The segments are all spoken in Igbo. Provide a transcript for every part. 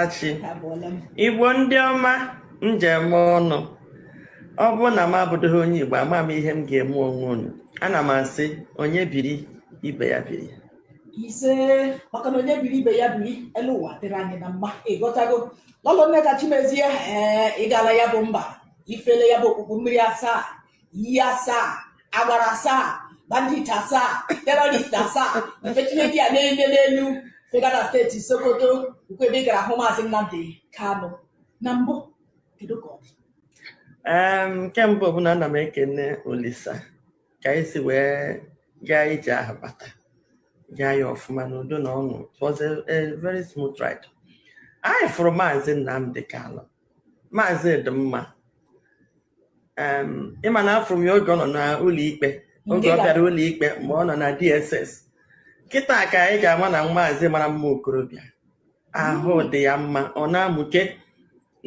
achị igbo ndị ọma m ji eme ọnụ ọ bụrụ na m abụdịghị onye igbo ama m ihe m ga-eme onwe unu ana m asị onye biri ibe ya biri ise maka na onye biri ibe ya biri elu ụwa dịrị anyị na mma ị ghọtago lọlọ Nneka Chimezie ee ị gala ya bụ mba ifele ya bụ okpukpu mmiri asaa iyi asaa agbara asaa bandit asaa terrorist asaa mfetinedi a na-ele n'elu fegada steeti sokoto ukwu ebe ị gara hụ maazị nnamdị kanụ na mbụ kedu ka ọ dị Em, nke mbụ bụ na ana m ekene Olisa ka anyị si wee gaa ije ahụ bata gaa ya ọfụma n'udo na ọṅụ it was a, a very smooth ride anyị fụrụ maazị Nnamdi Kalụ maazị dị mma ị ma na afụrụ m ya oge ọ nọ n'ụlọ ikpe oge ọ bịara ụlọ ikpe mgbe ọ nọ na DSS kịta ka anyị ga-ama na maazị mara mma okorobịa ahụ dị ya mma ọ na-amụke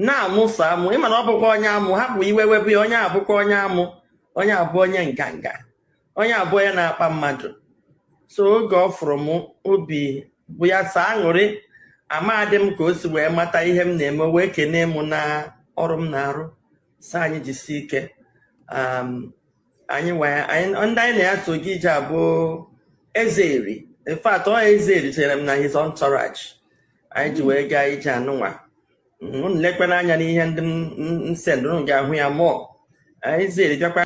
na-amụsọ amụ ị ma na ọ bụkwa onye amụ hapụ iwe webe ya onye abụkwa onye amụ onye abụ onye nganga onye abụ onye na-akpa mmadụ so oge ọ fụrụ m obi bụ ya sọ aṅụrị amadị m ka o si wee mata ihe m na-eme o wee kenee m na ọrụ m na-arụ sị anyị jisi ike um, anyị wee anyị ndị anyị na ya so gaa ije a bụ Eze Eri in fact ọ Eze Eri chere m na his entourage anyị ji wee gaa ije anụnwa unu lekwana anya n'ihe ndị m m- m sendụrụ ga-ahụ ya mụọ Eze Eri bịakwa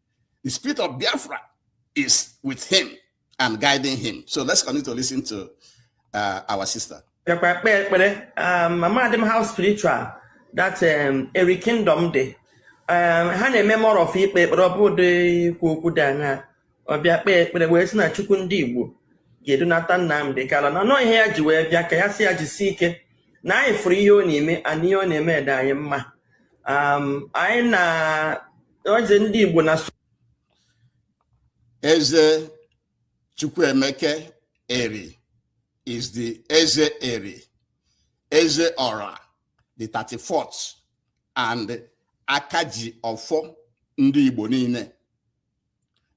The spirit of Biafra is with him and guiding him. So let's continue to listen to uh, our sister. Um, amadị m how spiritual that um, Eri kingdom dị. Um, ha na-eme more of ikpe ekpere ọ bụdị ikwu okwu dị anya ọ bịa kpee ekpere wee sị na chukwu ndị igbo ga-edunata nnamdị kalụ na ọ ihe ya ji wee bịa ka ya sị ya jisi ike na anyị fụrụ ihe ọ na-eme and ihe ọ na-eme dị anyị mma um, anyị na eze ndị Igbo na eze Chukwuemeka Eri is the eze Eri eze ọra the 34th and aka ji ọfọ ndị Igbo niile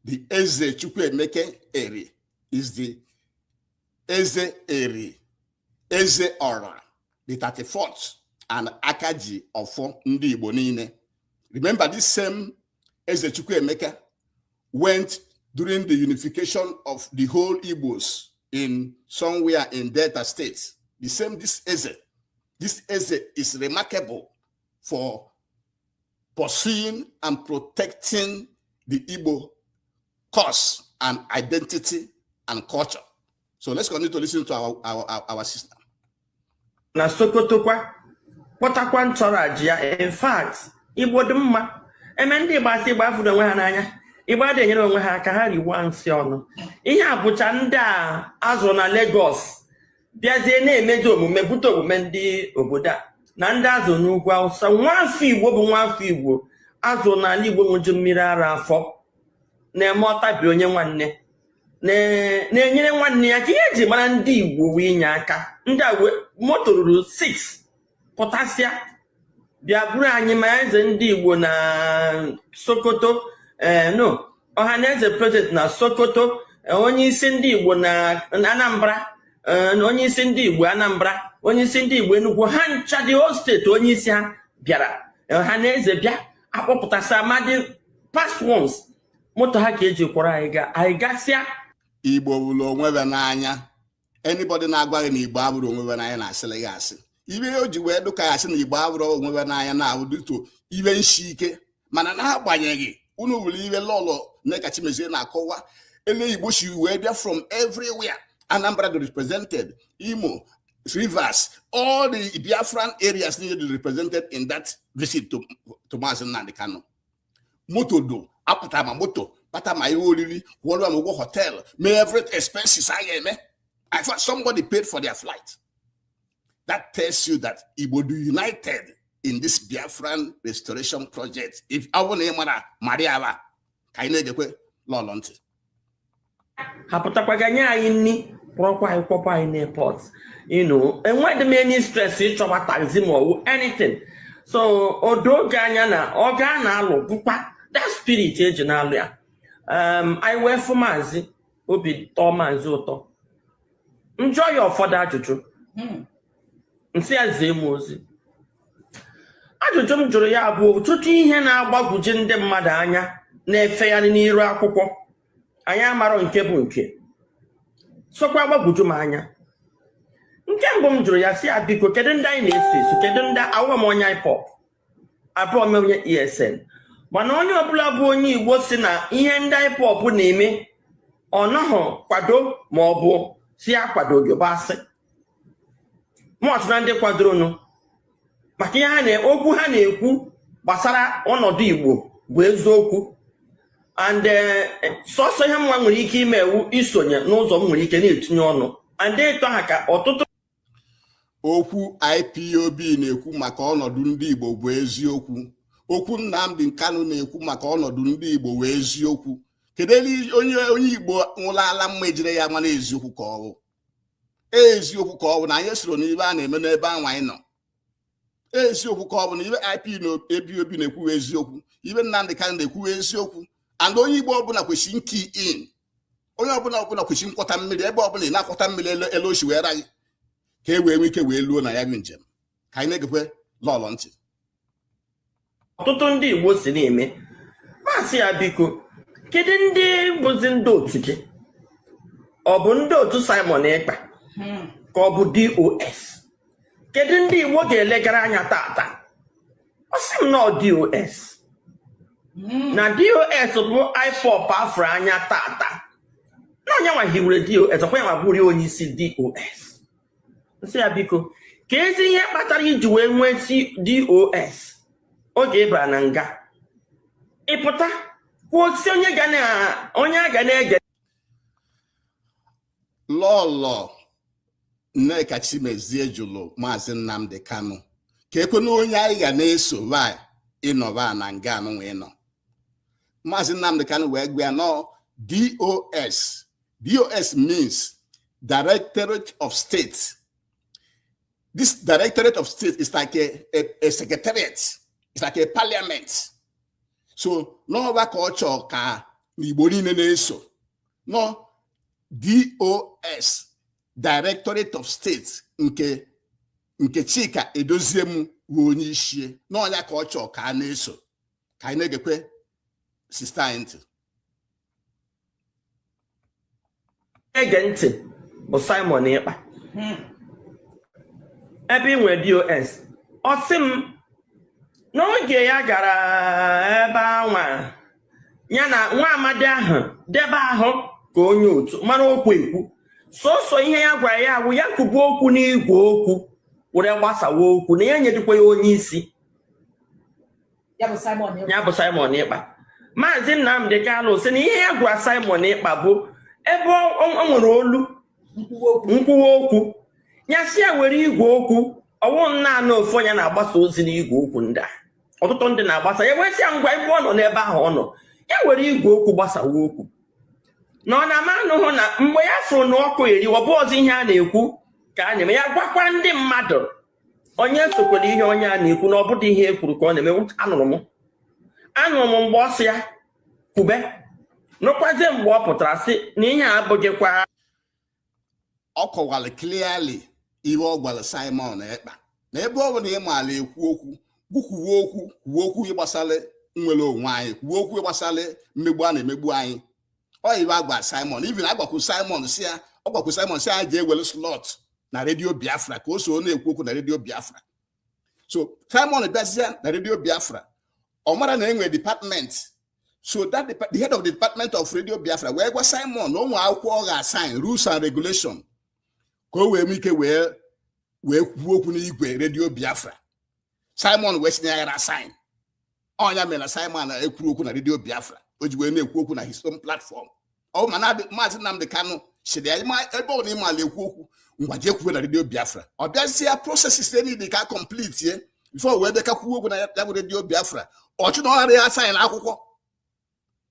the eze Chukwuemeka Eri is the eze Eri eze ọra the 34th and aka ji ọfọ ndị Igbo niile remember this same eze Chukwuemeka went during the unification of the whole Igbos in somewhere in Delta State the same this eze this eze is remarkable for pursuing and protecting the Igbo cause and identity and culture. so let's continue to listen to our, our, our, our sister na sokoto kwa kpọtakwa entourage ya in fact igbo dị mma eme ndị igbo asị igbo afụrọ onwe ha n'anya igbo adị enyere onwe ha aka ha riwa nsị ọnụ ihe a bụcha ndị a azụrụ na Lagos bịazie na-emezi omume bute omume ndị obodo a na ndị azụ n'ugwu awụsa nwa afọ igbo bụ nwa afọ igbo azụ n'ala igbo ṅụju mmiri ara afọ na-eme ọtabi onye nwanne na-enyere nwanne ya aka ihe eji mara ndị igbo wụ inye aka ndị a moto ruru 6 pụtasịa bịa buru anyị ma eze ndị igbo na sokoto ee eh, no ọha na eze president na sokoto eh, onye isi ndị igbo na anambra eh, na onye isi ndị igbo anambra onye isi ndị igbo enugwu ha ncha the whole state onye isi ha bịara ọha na eze bịa akpọpụtasịa ma ndị past ones moto ha ka eji kwọrọ anyị gaa anyị gasịa igbo fụrụ onwe ya n'anya anybody na-agwa gị na igbo afụrọ onwe ya n'anya na-asịrị gị asị ihe o ji wee dụka ya sị na igbo afụrọ onwe ya n'anya na-abụ due to ihe nshi ike mana n'agbanyeghị unu hụrụ ihe lọlọ Nneka Chimezie na-akọwa ele Igbo si wee bịa from everywhere Anambra dị represented Imo Rivers all the Biafran areas niile dị represented in that visit to, to Maazị Nnamdi Kanu moto do apụta ma moto kpata ma ihe oriri kwụọrọ ma ụgwọ hotel mee every expenses a ga-eme I thought somebody paid for their flight that tells you that Igbo dị united in this Biafran restoration project if ọ bụrụ na ị mara mara ya ka anyị na-egekwe lọlọ ntị ha pụtakwaga nye anyị nni kpọrọkwa anyị kpọkwa anyị n'airport you know enweghị m any stress ịchọwa taxi ma ọ wụ anything so o doo gị anya na ọgụ a na-alụ bụkwa that spirit eji na-alụ ya um, anyị wee fụ maazị obi tọọ maazị ụtọ m jụọ ya ụfọdụ ajụjụ hmm. m sị ya zie m ozi ajụjụ m jụrụ ya bụ ọtụtụ ihe na-agbagwoju ndị mmadụ anya na-efegharị n'iru akwụkwọ anyị amarọ nke bụ nke sokwa agbagwoju m anya nke mbụ m jụrụ ya sị ya biko kedu ndị anyị na-eso eso kedu ndị awụọ m onye ipob abụọ m onye esn mana onye ọbụla bụ onye igbo sị na ihe ndị ipob na-eme ọ nọghị kwado ma ọ bụ sị ya akwadoghị bụ asị mụ otu na ndị kwadoronụ maka ihe ha na okwu ha na-ekwu gbasara ọnọdụ Igbo bụ eziokwu and eh, sọsọ ihe mụnwa nwere ike ime wụ isonye n'ụzọ m nwere ike na-etinye ọnụ and ito ha ka ọtụtụ okwu IPOB na-ekwu maka ọnọdụ ndị Igbo bụ eziokwu okwu Nnamdi Kanu na-ekwu maka ọnọdụ ndị Igbo bụ eziokwu kedu onye Igbo nwụrụ ala mma ejire ya mana eziokwu ka ọ bụ eziokwu ka ọ bụ na anyị esoro n'ibe a na-eme n'ebe anwa anyị nọ eziokwu ka ọ bụ na ibe IPOB na-ekwu wụ eziokwu ibe Nnamdị Kanụ na-ekwu wụ eziokwu and onye Igbo ọbụla kwesịrị key in onye ọbụla ọbụla kwesịrị nkwọta mmiri ebe ọbụla ị na-akwọta mmiri etu o si wee ra gị ka e wee nwee ike wee luo na ya bụ njem ka anyị na-egekwe lọlọ ntị ọtụtụ ndị Igbo si na-eme m asị ya biko kedu ndị bụzi ndị otu gị ọ bụ ndị otu Simon Ekpa hmm. ka ọ bụ DOS kedu ndị Igbo ga-elegara anya tata ọ sị m na ọ DOS hmm. na DOS bụ IPOB a fụrụ anya tata na ọ ya nwa hiwere DOS ọkwa ya nwa bụrụ onye isi DOS m sị ya biko keezi ihe kpatara i ji wee nwesịa dos oge ị bara na nga ị pụta kwuo sị onye a ga na-ege lọlọ nneka chimezie jụrụ maazị nnamdị kanụ keekwanụ onye anyị ga na-eso ị nọba na nga anụnwa ị nọ maazị nnamdị kanụ wee gwa ya na ọ dos DOS means Directorate of State. This Directorate of State is like a, a, a secretariat, it's like a parliament. So, na ọ ya ka ọ chọọ ka ndị Igbo niile na-eso. Na ọ DOS, Directorate of State nke Chika Edoziem bụ onye isi ya na ọ ya ka ọ chọọ ka a na-eso ka anyị na-egekwe sista anyị ntị ege ntị bụ Simon Ekpa hmm. ebe ị nwere DOS ọ sị m n'oge ya gara ebe anwa ya na nwa amadi ahụ dị ebe ahụ ka onye otu mara okwu ekwu sọsọ ihe ya gwara ya bụ ya kwuba okwu n'igwe okwu were gbasawa okwu na ya enyedịkwa ya onye isi ya bụ Simon Ekpa maazị Nnamdi Kanu sị na ihe ya gwara Simon Ekpa bụ ebe ọ- ọ ọ nwere olu nkwuwa okwu ya si ya were igwe okwu ọ wụ naanị ofu onye na-agbasa ozi n'igwe okwu ndị a ọtụtụ ndị na-agbasa ya wee sị ya ngwa ebe ọ nọ n'ebe ahụ ọ nọ ya were igwe okwu gbasawa okwu na ọ na-ama anụhụ na mgbe ya fụrụ na ọkụ eriwa bụ ọzọ ihe a na-ekwu ka a na-eme ya gwakwa ndị mmadụ onye sokwala ihe onye a na-ekwu na ọ bụdị ihe e kwuru ka ọ na-eme anụrụ m anụrụ m mgbe ọ sị ya kwube nụkwazie mgbe ọ pụtara sị na ihe a abụghịkwa ọ kọwara clearly ihe ọ gwara Simon Ekpa na ebe ọ bụ na ị maala ekwu okwu kwukwuwe okwu kwuwe okwu gbasara nnwere onwe anyị kwuwe okwu gbasara mmegbu a na-emegbu anyị ọ even agwa Simon even agwakwu Simon si ya ọ gwakwu Simon si ya jee were slot na redio Biafra ka o so na-ekwu okwu na redio Biafra so Simon bịazia na redio Biafra ọ mara na e nwere department so that the, the head of the department of radio biafra wee gwa Simon na o nwere akwụkwọ ọ ga-asign rules and regulation ka o wee nwee ike wee wee kwuo okwu n'igwe radio biafra Simon wee sị na ya ghara asign ọ nya mere na Simon ekwurọ okwu na redio biafra o ji wee na-ekwu okwu na his own platform ọ ma na maazị Nnamdi Kanu sịrị ya "Ịma- ebe ọ na ị maala ekwu okwu ngwa jee kwube na redio biafra ọ bịazie ya processes e needi ka completie before wee bịa ka kwuo okwu na ya ya bụ redio biafra ọ sị na ọ ghara asign akwụkwọ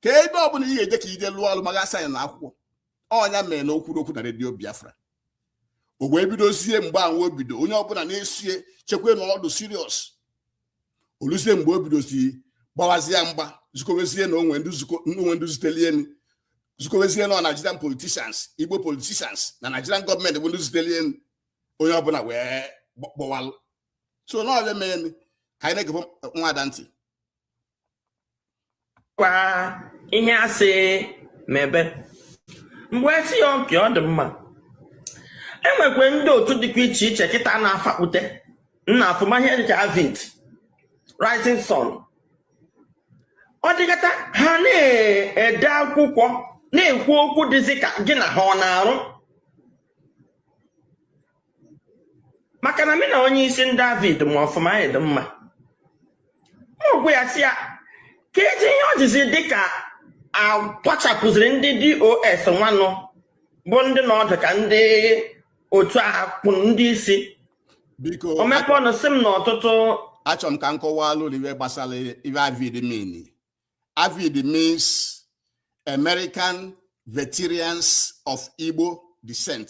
ka ebe ọbụla ị ga-eje ka i je lụọ ọrụ ma ị ga-asign akwụkwọ ọ nya mere na o kwurọ okwu na redio biafra o wee bidozie mgbe ahụ o bido onye ọbụla na-esi echekwa na ọ dụ serious o luzie mgbe o bidozi gbawazie mgba zukowezie na o nwe ndị zutelie elu zukowezie na Nigerian politicians Igbo politicians na Nigerian gọọmenti bụ ndị zutelie elu onye ọbụla wee gbawalụ ọsọ ọ nya mere ka anyị na-egebe nwada ntị kwa ihe a sị mebe mgbe si ya okay ọ dị mma e nwekwe ndị otu dịkwa iche iche kịta na-afakpute na-aform ihe dịka AVID Rising Sun ọ dịkata ha na-ede akwụkwọ na-ekwu okwu dịzi ka gị na ha ọ na-arụ maka na mị na onye isi ndị AVID ma ọfụma anyị dị mma ọgwụ ya si ya ka eji ihe o jizi dịka akwachapụziri ndị DOS nwanụ bụ ndị na ọ dụ ka ndị otu a kwụ ndị isi biko o mepe ọnụ si m na ọtụtụ achọ m ka m kọwaalụ unu ihe gbasara ihe AVID mean AVID means American Veterans of Igbo Descent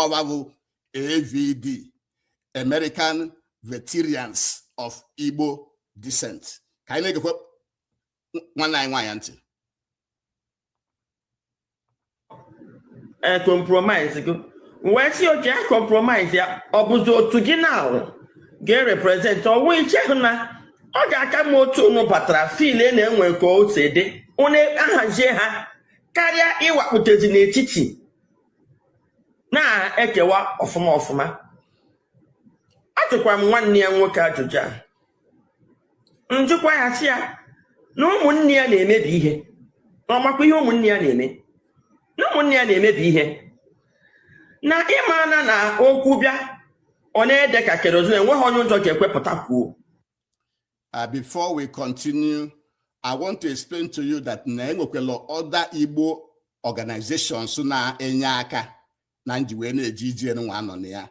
ọwa bụ avid american veterans of igbo descent ka anyị na-egekwe nwanne anyị nwaanyị ntị e compromise go wee sị okay a compromise ya ọ bụzi otu gị na ga-erepresent ọwụ ichehụ na ọ ga-aka mma otu unu batara feel na enwe ka o si dị unu ahazie ha karịa ịwakputezi n'etiti na-ekewa ọfụma ọfụma ajụkwa m nwanne ya nwoke ajụjụ a njụkwa ya sị ya na ụmụnne ya na-emebi ihe na ọ makwa ihe ụmụnne ya na-eme na ụmụnne ya na-emebi ihe na ị ma na na okwu bịa ọ na-ede ka kerosene enweghị onye ụjọ ga-ekwe pụta kwuo Uh, before we continue, I want to explain to you that na enwekwelu other Igbo organizations na-enye aka na nji wee na-eje ije nwa a nọ na ya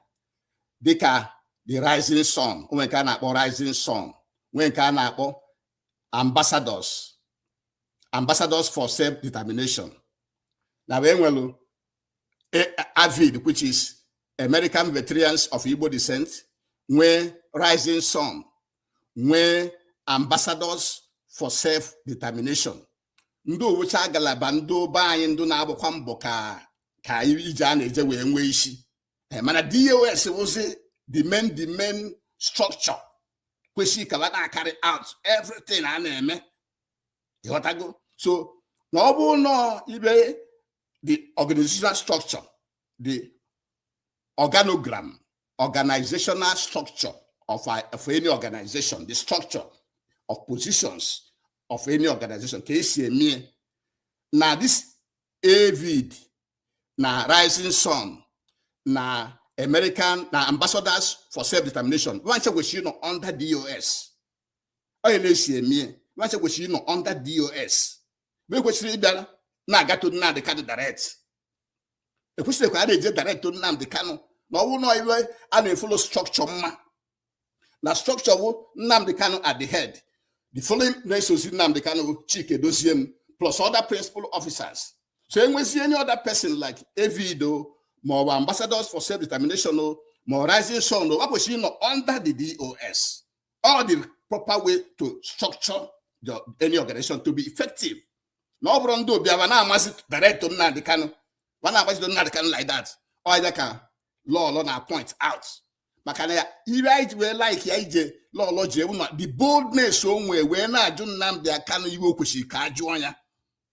dịka the rising sun o nwe nke a na-akpọ rising sun nwee nke a na-akpọ ambassadors ambassadors for self determination na wee nwelu avid which is American veterans of Igbo descent nwee rising sun nwee ambassadors for self determination ndị ọ wụcha ngalaba ndị be anyị ndị na-agbakwa mbọ ka ka ije a na-eje wee nwee isi eh, mana dos wụzi the main the main structure kwesịrị ka wa na-acarry out everything a na-eme ị ghọtago so na ọ bụrụ nọọ ibe the organizational structure the organogram organizational structure of, a, of any organization the structure of positions of any organization ka e si emie na this avid na rising sun na american na ambassadors for self determination wa ncha kwesịrị ịnọ under dos ọ ya ka e si emie wa ncha kwesịrị ịnọ under dos na ekwesịrọ ịbịa na-aga to Nnamdị Kanu direct ekwesịrọ ka a na-eje direct to Nnamdị Kanu na ọ wụ na iwe a na-efollow structure ma na structure bụ Nnamdị Kanu at the head the following na-esozi Nnamdị Kanu bụ Chika Edoziem plus other principal officers so enwezi any other person like AVID ma ọ bụ ambassadors for self determination ma rising sun o kwesịrị ịnọ under the DOS ọ the proper way to structure the, any organization to be effective na ọ bụrọ ndị ọbịa wa na-amazi direct to Nnamdi Kanu ma na-amazi to Nnamdi Kanu like that ọ ya ka lọlọ na-apoint out maka na ya iwe anyị ji wee like ya ije lọlọ ji ewu na the boldness o nwee wee na-ajụ Nnamdi Kanu iwe o kwesịrị ka a jụọ ya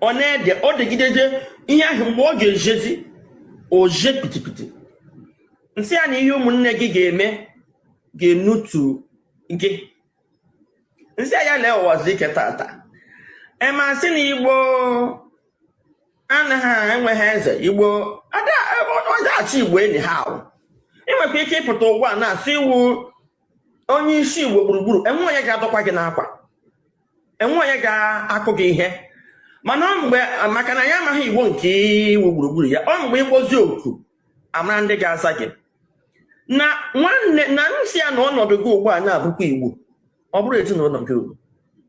ọ na-ede ọ degidede ihe ahụ mgbe ọ ga-ejezi o jee pitipiti m sị ya na ihe ụmụnne gị ga-eme ga-enutu gị m sị ya lee ụwazuruike tata ị ma sị na igbo anaghị enweghị eze igbo a da-achị igbo anyhow ị nwekwa ike ịpụta ugbu a na-asị ị wụ onye isi igbo gburugburu enwe onye ga-adọkwa gị n'akwa enwe onye ga-akụ gị ihe mana ọ mgbe maka na ya amaghị igbo nke ị wụ gburugburu ya ọ mgbe ị kpọzi oku a mara ndị ga-aza gị na nwanne na m sị ya na ọnọdụ gị ugbu a na-abụkwa igbo ọ bụrụ ezinụlọ gị ugbu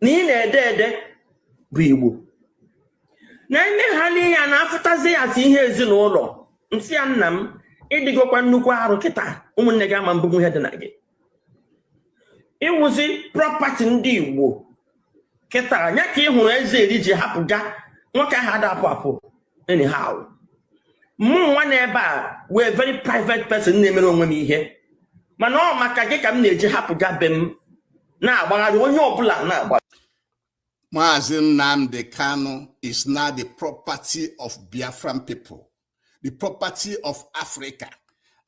na ị na-ede ede bụ igbo na ime ha n'ihe a na-afụtazi ya as ihe ezinụlọ m sị ya nna m ị dịgokwa nnukwu arụ kịta ụmụnne gị ama mbunwu ihe dị na gị ị wụzi property ndị igbo kịta nya ka ị hụrụ eze eri ji hapụga nwoke ahụ a da-apụ apụ anyhow mụ nwa na ebe a wee very private person na-emere onwe m ihe mana ọ maka gị ka m na-eji hapụga be m na-agbagharị onye ọbụla na-agbagharị Mazi Nnamdi Kanu is now the property of Biafran people, the property of Africa,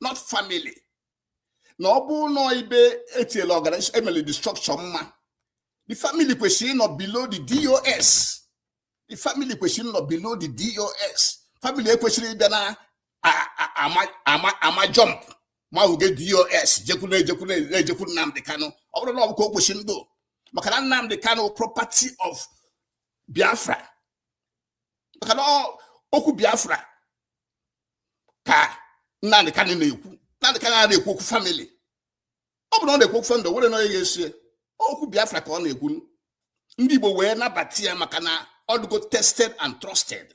not family. na ọ bụ nọ ibe etiela organization emele the structure mma the family kwesịrị ịnọ below the DOS the family kwesịrị ịnọ below the DOS family ekwesịrị ịbịa na-ama jump mafega DOS jekwuru ejekwuru ejekwuru Nnamdi Kanu ọ bụrụ na ọ bụ ka o kwesịrị ịdị maka na Nnamdi Kanu property of Biafra maka na okwu Biafra ka Nnamdi Kanu na-ekwu Nnamdi Kanu a na-ekwu okwu family ọ bụrụ na ọ na-ekwu okwu family were na onye ga-eso ye okwu Biafra ka ọ na-ekwu ndị Igbo wee nabata ya maka na ọ dịgo tested and trusted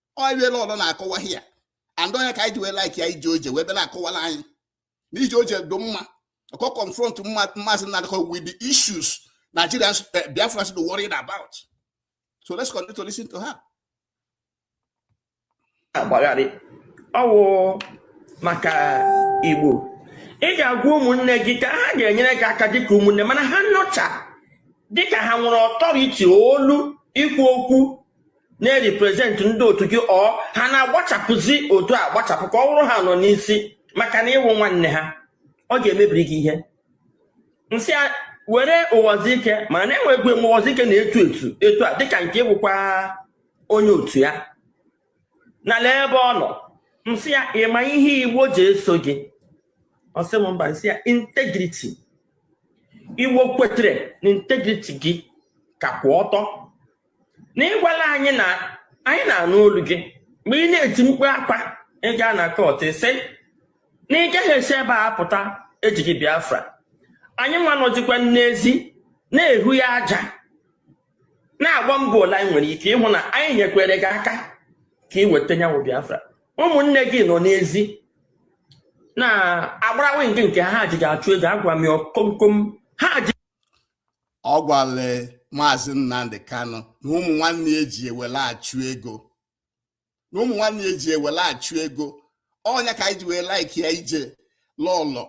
onye lọlọ na-akọwa ya and nya ka anyị ji wee like ya ije o je wee bịa na-akọwala anyị na ije o je dị mma ọ ka confront Mazi Nnamdi Kanu with the issues Nigerians uh, eh, Biafrans are worried about so let's continue to listen to her. agbagharị ọ wụ maka Igbo ị ga-agwa ụmụnne gị ka ha ga-enyere gị aka dịka ụmụnne mana ha nọcha dịka ha nwere authority olu ikwu okwu na-represent ndị otu gị ọ ha na-agbachapụzi otu a gbachapụ ka ọ bụrụ ha nọ n'isi maka na ịwụ nwanne ha ọ ga-emebiri gị ihe nsị ya were ụwazuruike mana enwegwu enwe ụwazuruike na-etu etu etu a dịka nke ịwụkwa onye otu ya na lee ebe ọ nọ nsị ya ịma ihe igbo ji eso gị ọsị m mba nsị ya integriti igbo kwetere na integriti gị ka kwụ ọtọ na ịgwala anyị na anyị na-anụ olu gị mgbe ị na-eti mkpu akwa ị gaa na kọt ị sị na ị gaghị esi ebe a pụta ejighị biafra anyị nwa nọzikwa n'ezi na-ehu ya aja na-agba mbọ ole anyị nwere ike ịhụ na anyị nyekwere gị aka ka ị weta nya wụ biafra ụmụnne gị nọ n'ezi na-agbara wing nke ha ji gị achụ ego agwa m ya komkom ha ji ọ gwale maazị Nnamdi Kanu na ụmụ nwanne ya ji ewere achụ ego na ụmụ nwanne ya ji ewere achụ ego ọ nya ka anyị ji wee laiki ya ije lọlọ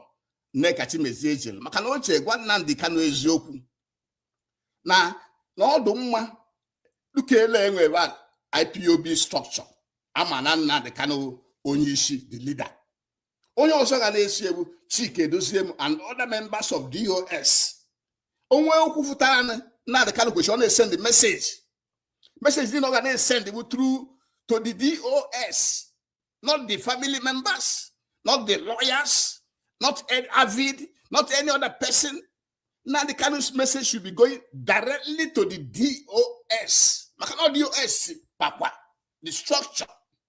Nneka Chimezie jere maka na o je gwa Nnamdi Kanu eziokwu na na ọ dụ mma dukele enwere IPOB structure a ma na Nnamdi Kanu onye isi the leader onye ọzọ ga na-eso ya bụ Chika Edoziem and other members of DOS o nwe okwu fụtara Nnamdi Kanu kwesịrị ọ na-esend meseji meseji niile ọ ga na-esend bụ through to the DOS not the family members not the lawyers not AVID not any other person Nnamdi Kanu message should be going directly to the DOS. Maka na ọ DOS pakwa the structure,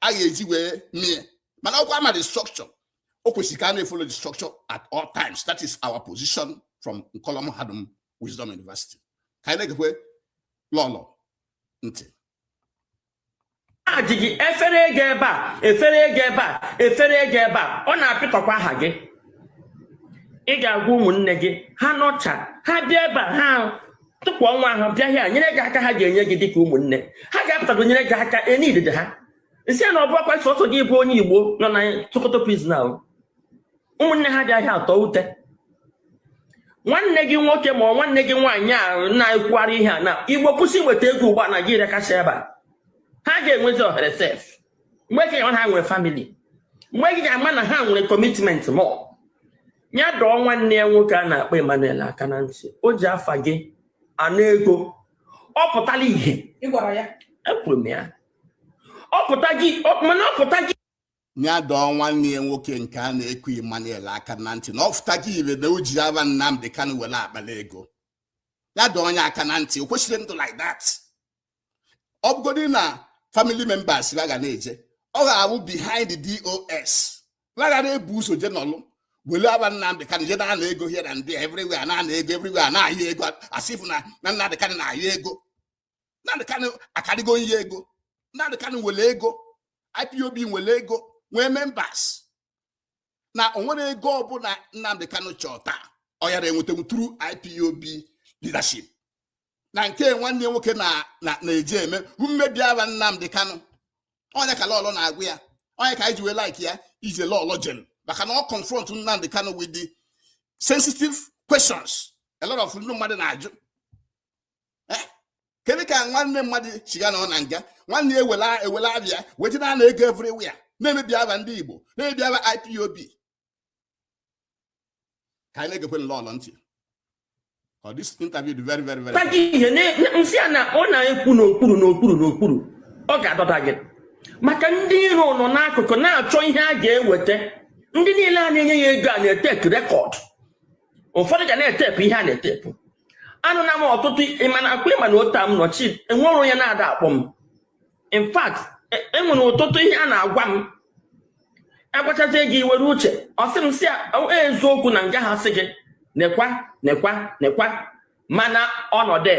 a ga-eji wee mie mana ọkwa ma the structure o kwesịrị ka a na-efolo the structure at all times that is our position from Nkolo Mahadum Wisdom University ka anyị na-egekwe lọlọ ntị a ji gị efere ego ebe a efere ego ebe a efere ego ebe a ọ na-apịtọkwa aha gị ị ga-agwa ụmụnne gị ha nọcha ha bịa ebe a ha tụpụ onwe ha bịa hịa nyere gị aka ha ga-enye gị dịka ụmụnne ha ga-apụtago nyere gị aka enidede ha nsị ya na ọ bụ akwa sọsọ gị bụ onye igbo nọ na sokoto prizin ahụ ụmụnne ha bịa hịa atọ ute nwanne gị nwoke ma ọ nwanne gị nwaanyị a na-ekwugharị ihe a na igbo kwụsị iweta ego ugbu a naijiria kacha ebe a ha ga-enwezi ohere sef mgbe gị ga-ama na ha nwere famili mgbe gị ga-ama na ha nwere kọmitment mọ ya dọọ nwanne ya nwoke a na-akpọ Emmanuel aka na ntị o ji afa gị ana ego ọ pụtala ihe ị gwara ya ekwuru m ya ọ pụta gị mana ọ pụta gị ya dọọ nwanne ya nwoke nke a na-eku Emmanuel aka na ntị na ọ pụtago ire na o ji afa Nnamdi Kanu were akpara ego ya dọọ onye aka na ntị o kwesịrọ ịdụ like that ọ bụgodị na family members ha ga na-eje ọ ga-awụ behind the DOS ha ga na-ebu ụzọ je nọlụ wele aba Nnamdị Kanụ je na-ana ego here and there everywhere na-ana ego everywhere na-ayọ ego as if na na Nnamdị Kanụ na-ayọ ego Nnamdị Kanụ akarịgo ihe ego Nnamdị Kanụ nwele ego IPOB nwele ego nwee members na onwere ego ọbụla Nnamdị Kanụ chọọ taa ọ yara enwetanwu through IPOB leadership na nke nwanne nwoke na-eji eme mmebi aba Nnamdi Kanu ọ nya ka Lọlọ na-agwa ya ọ nya ka anyị ji wee like ya ije Lọlọ jelu maka na ọ confront Nnamdi Kanu with the sensitive questions a lot of ndị mmadụ na-ajụ eh? kedu ka nwanne mmadụ si ga-anọ na nga nwanne ewela ewela aba ya wee je na-ana ego everywhere na-emebi aba ndị Igbo na-emebi aba IPOB ka anyị na-egekwe Lọlọ ntị ọ this interview dị very very very kpaga ihe nsị a na ọ na-ekwu n'okpuru n'okpuru n'okpuru ọ ga-adọda gị maka ndị iro nọ n'akụkụ na-achọ ihe a ga-eweta ndị niile a na-enye ya ego a na-etepu record ụfọdụ ga na-etepu ihe a na-etepu anụ na m ọtụtụ ị ma na ọkwa ị ma na otu m nọchi enwere onye na-ada akpọ m in fact enwere e ọtụtụ ihe a na-agwa m agwachazie gị iwere uche ọ sị m si e, eziokwu na nga ha sị gị nekwa nekwa nekwa mana ọnọdụ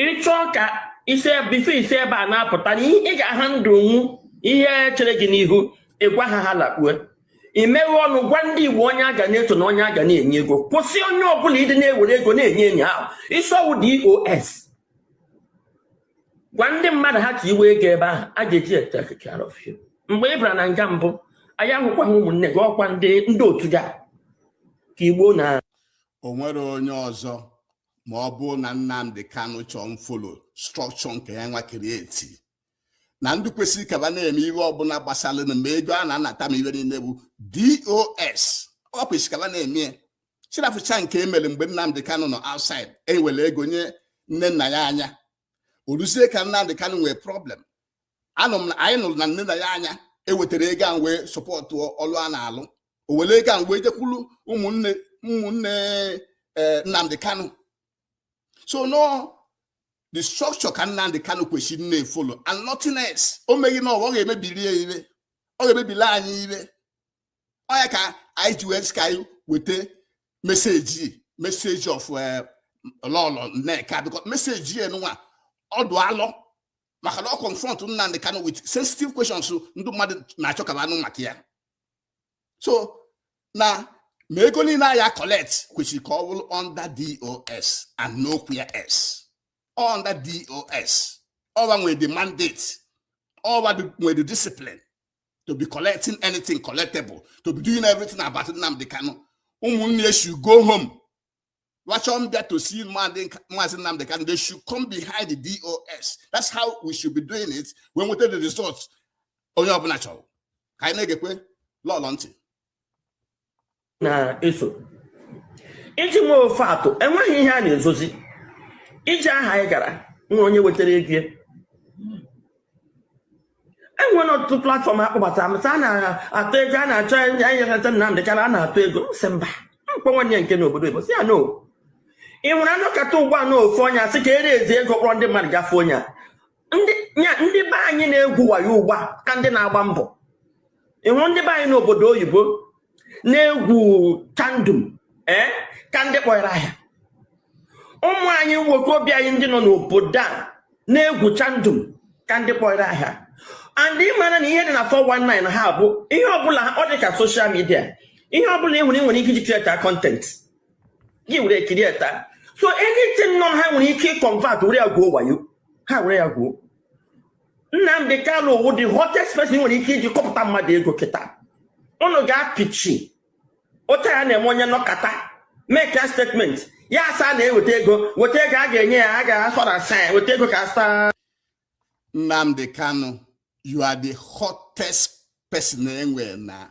ịchọọ ka isi before isi ebe a na-apụta na ị ga-ahandlenwu ihe chere gị n'ihu ịgwa ha ha lakpue imeghe ọnụ gwa ndị igbo onye a ga na-eso na onye a ga na-enye ego kwụsị onye ọbụla ịdị na-ewere ego na-enye onye ahụ ị sị ọ wụ DOS gwa ndị mmadụ ha ka iwe ego ebe ahụ a ga-eji etake care of ya mgbe ị bara na nga mbụ anyị ahụkwaghị ụmụnne gị ọkwa ndị ndị otu gị a ka igbo na o nwere onye ọzọ ma ọ bụrụ na Nnamdi Kanu chọọ mfolo structure nke ya nwa create na ndị kwesịrị ka ba na-eme ihe ọbụla gbasara na ma ego a na-anata ma ihe niile bụ DOS ọ ba kwesịrị ka ba na-eme ya sị rafụcha nke emere mgbe Nnamdị Kanụ nọ outside ewere ego nye Nnennaya Anya o luzie ka Nnamdị Kanụ nwee problem anụ m na anyị nụrụ na Nnennaya Anya ewetara ego a wee sọpọtụ ọlụ a na-alụ o were ego a wee jekwuru ụmụnne ụmụnne eh, Nnamdị Kanụ so no the structure ka Nnamdi Kanu kwesịrị na-efolo and nothing else o meghị na ọ ga-emebiri ya ibe ọ ga-emebili anyị ibe ọ ya ka anyị ji wee sị ka anyị weta message message of eh, Lọlọ Nneka because message ya nwa ọ dụ alọ maka na ọ confront Nnamdi Kanu with sensitive questions ndị mmadụ na-achọ ka ba nụ maka ya so na ma ego niile a ya-collect kwesịrị ka ọ bụrụ under DOS and nowhere else under DOS ọ wa nwere the mandate ọ wa nwere the discipline to be collecting anything collectible to be doing everything about Nnamdi Kanu ụmụnne should go home Wa chọọ ịbịa to see Mazi Nnamdi Kanu, they should come behind the DOS. That's how we should be doing it wee nweta the result. Onye ọbụla chọrọ ka anyị na-egekwe Lọlọ ntị. Na-eso iji nwee ofe atụ enweghị ihe a na-ezozi iji aha anyị gara nwa onye wetara ego enwere ọtụtụ platfọm a kpọbatara m a na-atụ ego a na-achọ enyeghata Nnamdị Kanu a na-atụ ego m sị mba m kpọọ nwanne ya nke n'obodo Igbo sị ya no ị nwere anọkata ugbu a na ofu onye asị ka ere ezi ego kpọrọ ndị mmadụ gafe onye a ndị be anyị na-egwu wayo ugbu a ka ndị na-agba mbọ ịhụ ndị be anyị n'obodo oyibo na-egwu chandum ee eh, ka ndị kpọrọ ahịa ụmụ anyị nwoke obi anyị ndị nọ n'obodo a na-egwu chandum ka ndị kpọrọ ahịa and ị mara na ihe dị na 419 ahụ bụ ihe ọbụla ọ dị ka social media ihe ọbụla ị hụrụ ị nwere ike iji create content gị were create so anything na ha nwere ike ịconvert were ya gwuo wayo ha were ya gwuo Nnamdi Kanu wụ the hottest person e nwere ike iji kọpụta mmadụ ego kịta unu ga-apịchi otu ya na-eme onye nọkata make a statement ya asị a na-eweta ego weta ego a ga-enye ya a ga-asọ na sa ya weta ego ka asa Nnamdi Kanu you are the hottest person enwere na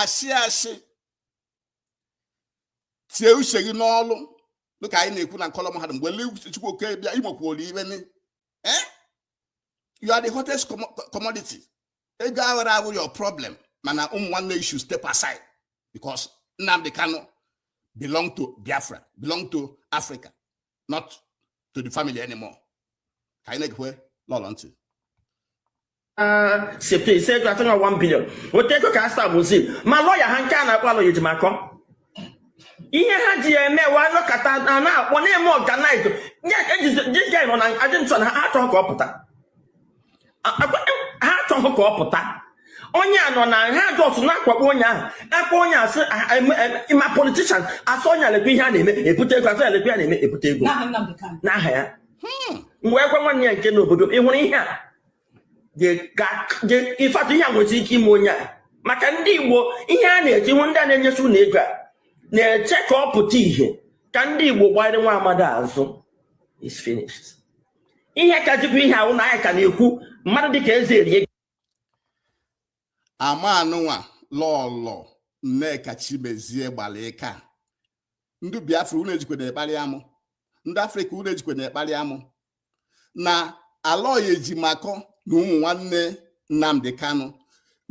asị asị tie uche gị n'ọlụ dịka anyị na-ekwu na nkọlọ mahadum mgbe le Chukwu oke bịa igbokwuolu ibe ni eh? you are the hottest commodity ego aghara abụ your problem mana ụmụ nwanne gị should step aside because Nnamdi Kanu belong to Biafra belong to Africa not to the family anymore ka anyị na-egekwe Lọlọ ntị site ise ego atọ na 1 billion otu ego ka a stab ozi ma lọya ha nke a na-akpọ Aloy Ejimakor ihe ha ji ya eme wa nọkọta a na-akpọ na-eme organize this guy nọ na detention ha achọghị ka ọ pụta ha achọghị ka ọ pụta onye a nọ na ha just na-akwakpo onye ahụ akpa onye asị ma politicians asị onye alekwa ihe a na-eme ebute ego asị alekwa ya na-eme ebute ego n'aha ya hmm. m gwakwa nwanne ya nke n'obodo ị hụrụ ihe a in fact ihe a nwere ike ime onye a maka ndị Igbo ihe a na-eji hụ ndị a na-enyesi ụnụ ego a na-eche ka ọ pụta ihe ka ndị Igbo gbanyere nwa amadi azụ is finished ihe kazikwa ihe ahụ na anyị ka na-ekwu mmadụ dịka eze erie amanụnwa lọlọ nneka chimezie gbalịka ndị biafra unu ejikwa na-ekparị amụ ndị afrịka unu ejikwa na-ekparị amụ na Aloy Ejimakor na ụmụ nwanne Nnamdi Kanu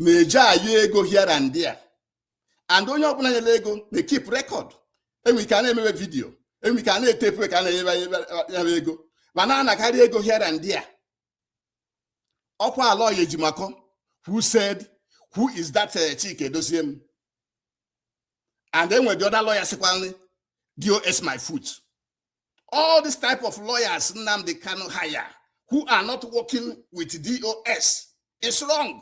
na-eji ayọ ego here and there and onye ọbụla nyere ego na-ekeep record enwe ike a na-emewe vidiyo enwe ike a na-etepu ka a na-enyebe nyebe ego ma na-anakarị ego here and there ọkwa Aloy Ejimakor who said who is that eh, Chika Edoziem and enwe the other lawyer sịkwara DOS my foot all this type of lawyers Nnamdi Kanu hire who are not working with DOS is wrong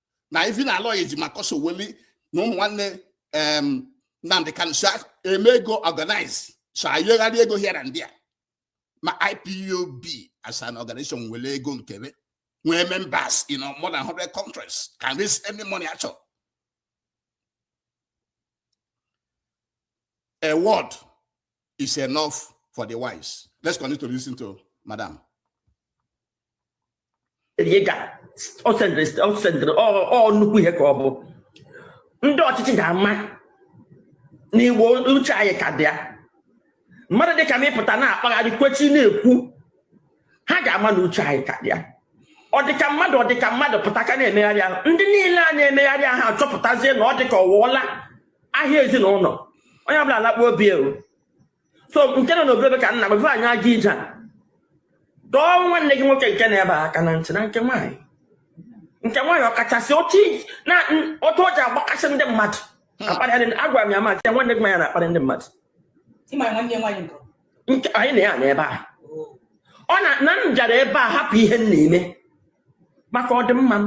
na even Aloy Ejimakor Sowore na ụmụ nwanne Nnamdi Kanu so eme ego organize so ayọgharị ego here and there ma IPOB as an organization nwere ego nkebe nwee members in more than 100 countries can raise any money at all. A word is enough for the wise. Let's continue to listen to Madam. ọ sendịrị ọ nnukwu ihe ka ọ bụ ndị ọchịchị ga-ama na igbo uche anyị ka dị ya mmadụ dịka m ịpụta na-akpagharị kwechi na-ekwu ha ga-ama na uche anyị ka dị ya ọ dịka mmadụ ọ dịka mmadụ pụta ka na-emegharị ahụ ndị niile a na-emegharị ahụ achọpụtazie na ọ dịka ọwụọla ahịa ezinụlọ onye ọbụla alakpuo obi ewu so nke nọ n'obodo ka nna gbafe anyị aga ije a dọọ nwanne gị nwoke nke nọ ebe a aka na ntị na nke nwaanyị nke nwaanyị ọkachasị otu o ji agbakasị ndị mmadụ akparịa agwara m ya maazị ya nwanne gị nwaanyị na-akparị ndị mmadụ nke anyị na ya nọ ebe a ọ na na m bịara ebe a hapụ ihe m na-eme maka ọdịmma m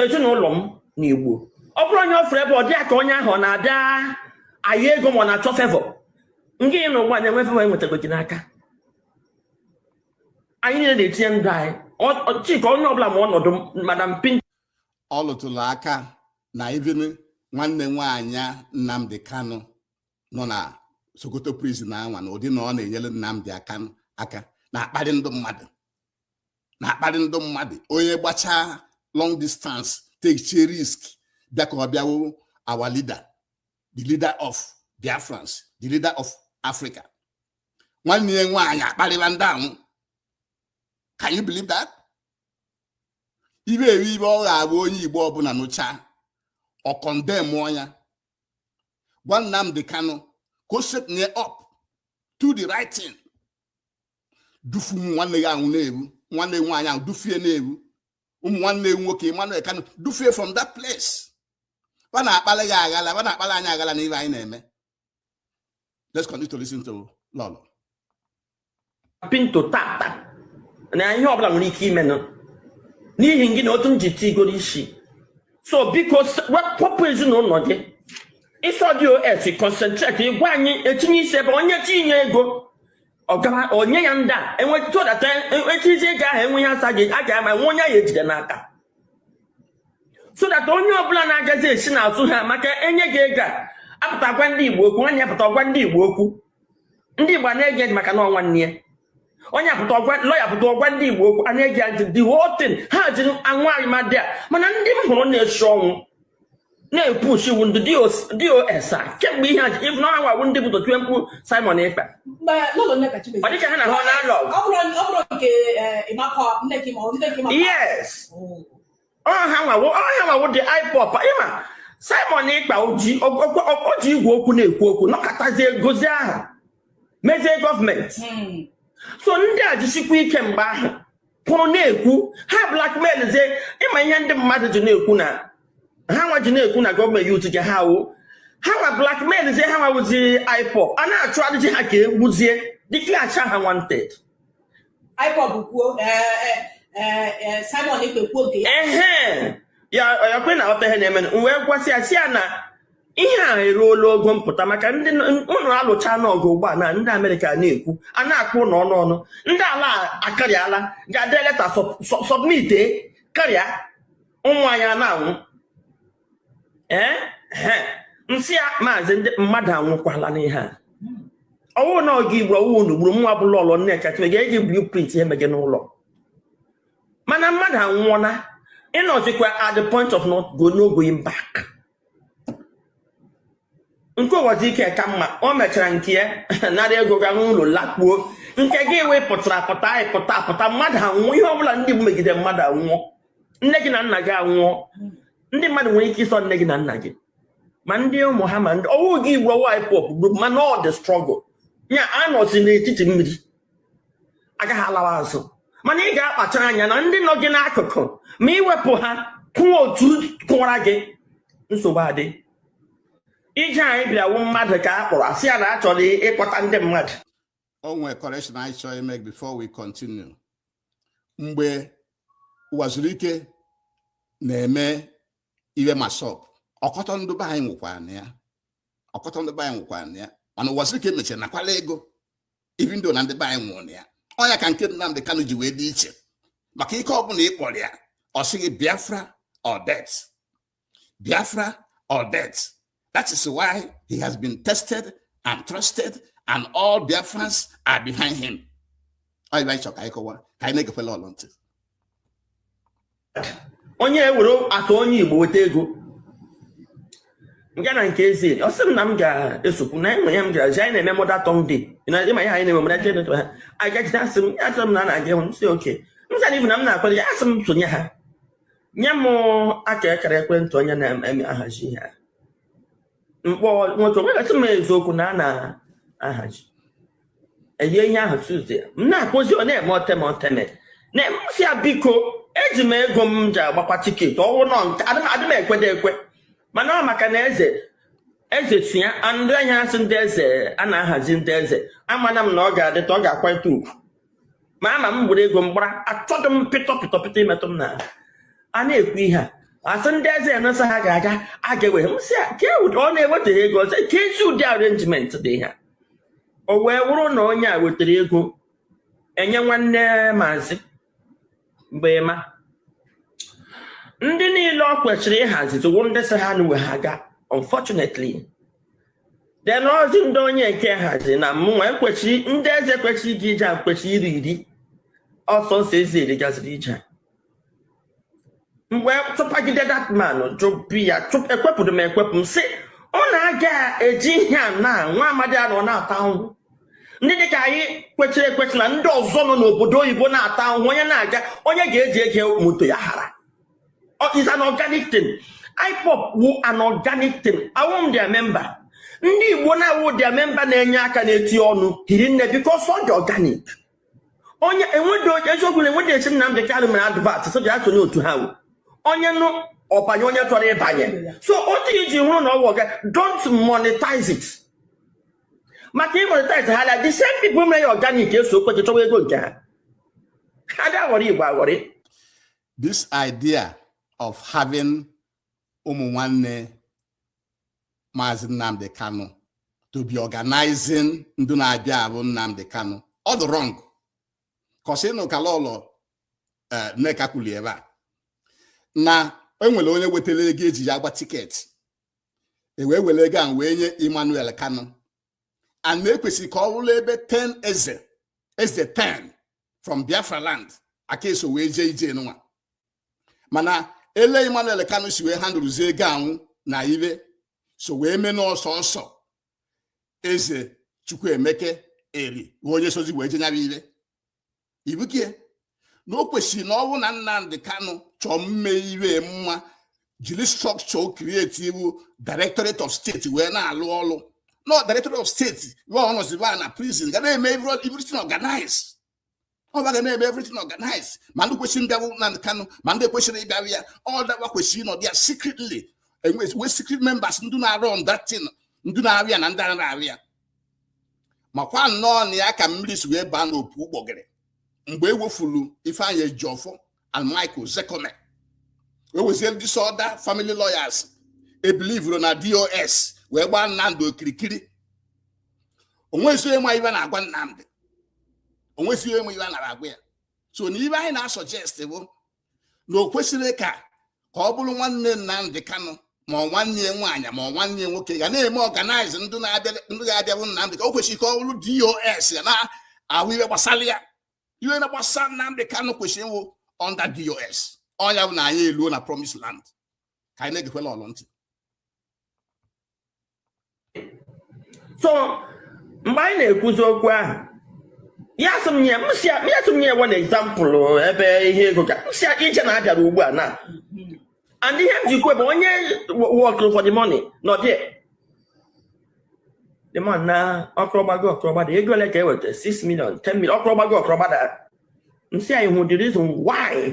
ezinụlọ m na igbo ọ bụrụ onye ọ fụrụ ebe ọ dị ya ka onye ahụ ọ na-abịa ayọ ego ma ọ na-achọ favour ngị na ụgbọ anyị enwe favour enwetago gị n'aka anyị niile na-etinye ndụ anyị Ọ- ọ- chika onye ọbụla ma ọnọdụ m, madam pin ọ lụtụrụ aka na even nwanne nwaanyị a Nnamdi Kanu nọ na Sokoto prison anwa na ụdị na ọ na-enyere Nnamdi Kanu aka na-akparị ndị mmadụ na-akparị ndị mmadụ onye gbachaa long distance take risk bịa ka ọ bịa hụ our leader the leader of Biafrans the leader of Africa nwanne ya nwaanyị akparịla ndị ahụ can you believe that ibe eri ihe ọ ga-abụ onye Igbo ọbụla nụcha ọ kọndemụọ ya gwa Nnamdi Kanu ka o stepnie up to the right thing dufu ụmụ nwanne gị ahụ na-ewu nwanne nwaanyị ahụ dufie na-ewu ụmụ nwanne nwoke Emmanuel Kanu dufie from that place ba na-akpali gị aghala ba na-akpali anyị aghala na ibe anyị na-eme let's continue to listen to Lolo pinto tata na ihe ọbụla nwere ike imenụ n'ihi gị na otu m ji tigoro isi so biko kpọpụ ezinụlọ gị ịsọ DOS concentrate ịgwa anyị etinye isi ebe onye tinye ego ọgara onye ya ndị a enwetụdata echizi ego ahụ enweghị asa gị a ga-ama nwe onye ya ejide n'aka so that onye ọbụla na-agazi esi n'azụ ha maka enye gị ego a apụta gwa ndị igbo okwu nwanne ya pụta gwa ndị igbo okwu ndị igbo na-ege maka na ọ nwanne ya onye pụta ọ gwa lọya pụta ọ gwa ndị igbo okwu a na-ege ntị the whole thing ha ji anwụ arịmadị a mana ndị m hụrụ na-esi ọnwụ na-epushi wu ndị DOS a kemgbe ihe a even ọ ha nwa wu ndị bụ tiwe mkpu Simon Ekpa ọ dịka ha na ha na-alụ yes oh. ọ ha nwa wu ọ ha nwa wu the IPOB ị ma Simon Ekpa o ji igwe okwu na-ekwu okwu nọkọtazie gozie ahụ mezie gọọmenti hmm. so ndị a jisikwa ike mgbe ahụ pụrụ na-ekwu ha blackmail zie ị ma ihe ndị mmadụ ji na-ekwu na ha nwa ji na-ekwu na gọọmenti utu ji ha wu ha nwa blackmail zie ha nwa wuzi IPOB a na-achụ adịji ha ka e gbuzie declare ha wanted IPOB kwuo Simon Ekpa kwuo nke ya ya ọ kwa ị na-aghọta ihe na-eme m wee gwasị ya sị ya na ihe a eruola ogo mpụta maka ndị unu alụchaana ọgụ ugbu a na ndị amerịka na-ekwu a na-akpụ n'ọnụ ọnụ ndị ala akarịala ga-ede leta submit karịa ụmụ anyị na-anwụ ee m sị ya maazị ndị mmadụ anwụkwala n'ihe a ọ wụghị na ọ gị gburu ọ wụ unu gburu mụwa bụ Lolo Nneka Chimezie ga-eji blueprint ihe mege n'ụlọ mana mmadụ anwụọla ị nọzikwa at the point of not go no going back nke Uwazuruike ka mma o mechara nke ya nara ego ga n'ụlọ lakpuo nke gị wee pụtara apụta anyị pụta apụta mmadụ anwụọ ihe ọbụla ndị mmegide mmadụ anwụọ nne gị na nna gị anwụọ ndị mmadụ nwere ike ịsọ nne gị na nna gị ma ndị ụmụ ha ma ndị ọ wụ gị igbu ọ wụ IPOB mana ọ the struggle ya a nọzi n'etiti mmiri agaghị alawa azụ mana ị ga-akpachara anya na ndị nọ gị n'akụkụ ma iwepụ ha kwụọ otu kụwara gị nsogbu adị ije anyị bịa wu mmadụ ka a kpọrọ asị ya na a chọrọ ịkpọta ndị mmadụ o nwere correction anyị chọrọ ime before we continue mgbe Uwazuruike na-eme ihe MASSOB ọkọtọ ndị be anyị nwụkwara na ya ọkọtọ ndị be anyị nwụkwara na ya mana Uwazuruike mechara nakwala ego even though na ndị be anyị nwụrụ na ya ọ ya ka nke Nnamdị Kanu ji wee dị iche maka ike ọbụla ị kpọrọ ya ọ sị gị Biafra or death Biafra or death that is why he has been tested and trusted and all Biafrans are behind him ọ ịba ịchọ ka anyị kọwa ka anyị na-egekwela olu ntị onye ewere atụ onye Igbo weta ego nga na nke ezi ọ sị m na m ga-esokwu na enwe ya m gara ji anyị na-eme mother tongue day ịma ya anyị na-eme mother tongue day ha anyị gajide asị m ya chọrọ m na a na-aga ịhụ m sị okay m zara ibu na m na-akwado ya asị m sonye ha nye m aka akara ekwentị onye na-eme ahazi ihe a m kpọọ nwoke nwoke a sị m eziokwu na a na-ahazi enye ihe ahụ Tuesday m na-akpọzi ọ na-eme oteme oteme na m sị ya biko eji m ego m ji agbakwa tiketi ọ wụrụ na nke adị m adị m ekwede ekwe mana ọ maka na eze eze si ya ndị ahịa a sị ndị eze a na-ahazi ndị eze amana m na ọ ga-adịta ọ ga-akwanyete ugwu ma ama m were ego m gbara achọghị m pịtọ pịtọ pịtọ imetụ m na a na-ekwu ihe a a sị ndị eze enesa ha ga-aga a ga-ewe m si ke ụdị ọ na-ewetaghị ego ọzọ ka ezi ụdị arrangement dị ha o wee wụrụ na onye a wetara ego enye nwanne maazị mgbe ma ndị niile ọ kwesịrị ịhazi tụwo ndị sị ha na uwe ha gaa unfortunately then ozi ndị onye nke hazi na mụnwa ekwesịrị ndị eze kwesịrị ịga ije a kwesịrị iri iri ọ sọ ndị eze iri gaziri ije a mgbe tụpagide that man jụbi ya ekwepụrụ m ekwepụ m sị unu aga eji ihe a na nwa amadi a nọ na-ata ahụhụ ndị dịka anyị kwechiri ekwechi na ndị ọzọ nọ n'obodo oyibo na-ata ahụhụ onye na-aga onye ga-eji ege moto ya hara is an organic thing IPOB wu an organic thing awụghị m their member ndị Igbo na-awụghị their member na-enye aka na-eti ọnụ hiri nne because ọ dị organic onye enwedo eziokwu na enwedo esi Nnamdị Kanụ mere advert so ji asonye otu ha wụ onye nụ ọ banye onye chọrọ ịbanye so otu iji hụrụ na ọ wụ ọga don't monetize it maka ị monetize ha la the same people mere ya organic eso okweche chọwa ego nke ha ha ga-aghọrọ Igbo aghọrị this idea of having ụmụ nwanne Maazị Nnamdi Kanu to be organizing ndị na-abịa ahụ Nnamdi Kanu ọ dị wrong cos ị nụ ka Lọlọ eh, Nneka kwulu ebe a na enwere onye wetara ego eji ya agba ticket ewee were ego ahụ wee nye Emmanuel Kanu and na ekwesịrị ka ọ bụrụ ebe 10 eze eze 10 from biafra land aka eso wee jee ije nwa mana ele emmanuel kanu si wee handlezie ego anwụ na ihe so wee mee na ọ sọọsọ eze chukwuemeka eri onye sozi wee jee nyara ihe ibuke na o kwesịrị na ọ wụ na Nnamdi Kanu chọọ ime ihe mma jiri structure create iwu directorate of state wee na-alụ ọlụ na directorate of state wee ọ nọziba na prison ga na-eme everything organized ọ ga na-eme everything organized ma ndị kwesịrị ịbịa hụ na Kanu ma ndị kwesịrị ịbịa hụ ya ọ dakwa kwesịrị ịnọdụ ya secretly enwe secret members ndị na-arun that thing ndị na-arịa na ndị na-arịa makwa nnọọ na ya ka mmiri si wee baa n'opi ụgbọgụrụ mgbe e wefuru Ifeanyi Ejiofor and Mike Ozekhome wee wezie this other family lawyers ebelieverọ na DOS wee gbaa Nnamdi okirikiri o nwezi onye ma ihe a na-agwa Nnamdi o nwezi onye ma ihe a na-agwa ya so na ihe anyị na-asuggest bụ na o kwesịrị ka ka ọ bụrụ nwanne Nnamdị Kanụ ma ọ nwanne ya nwaanyị ma ọ nwanne ya nwoke ga na-eme organize ndị ga-abịa hụ Nnamdị ka o kwesịrị ka ọ bụrụ DOS na-ahụ ihe gbasara ya ihe na gbasara Nnamdị Kanụ kwesịrị ịwụ under DOS ọ nya bụ na anyị eluo na promise land ka anyị na-egekwela ọlụ ntị so mgbe anyị na-ekwuzi okwu ahụ ya sị m nye m sị ya ya sị m nye one example ebe ihe ego ga m sị ya iche na abịara ugbu a na and ihe m ji kwu bụ onye workụrụ for the money nọ there the man na ọ kụrọ gbago ọ kụrọ gbada ego ole ka e weta 6 million 10 million ọ kụrọ gbago ọ kụrọ gbada m sị ya ị hụ the reason why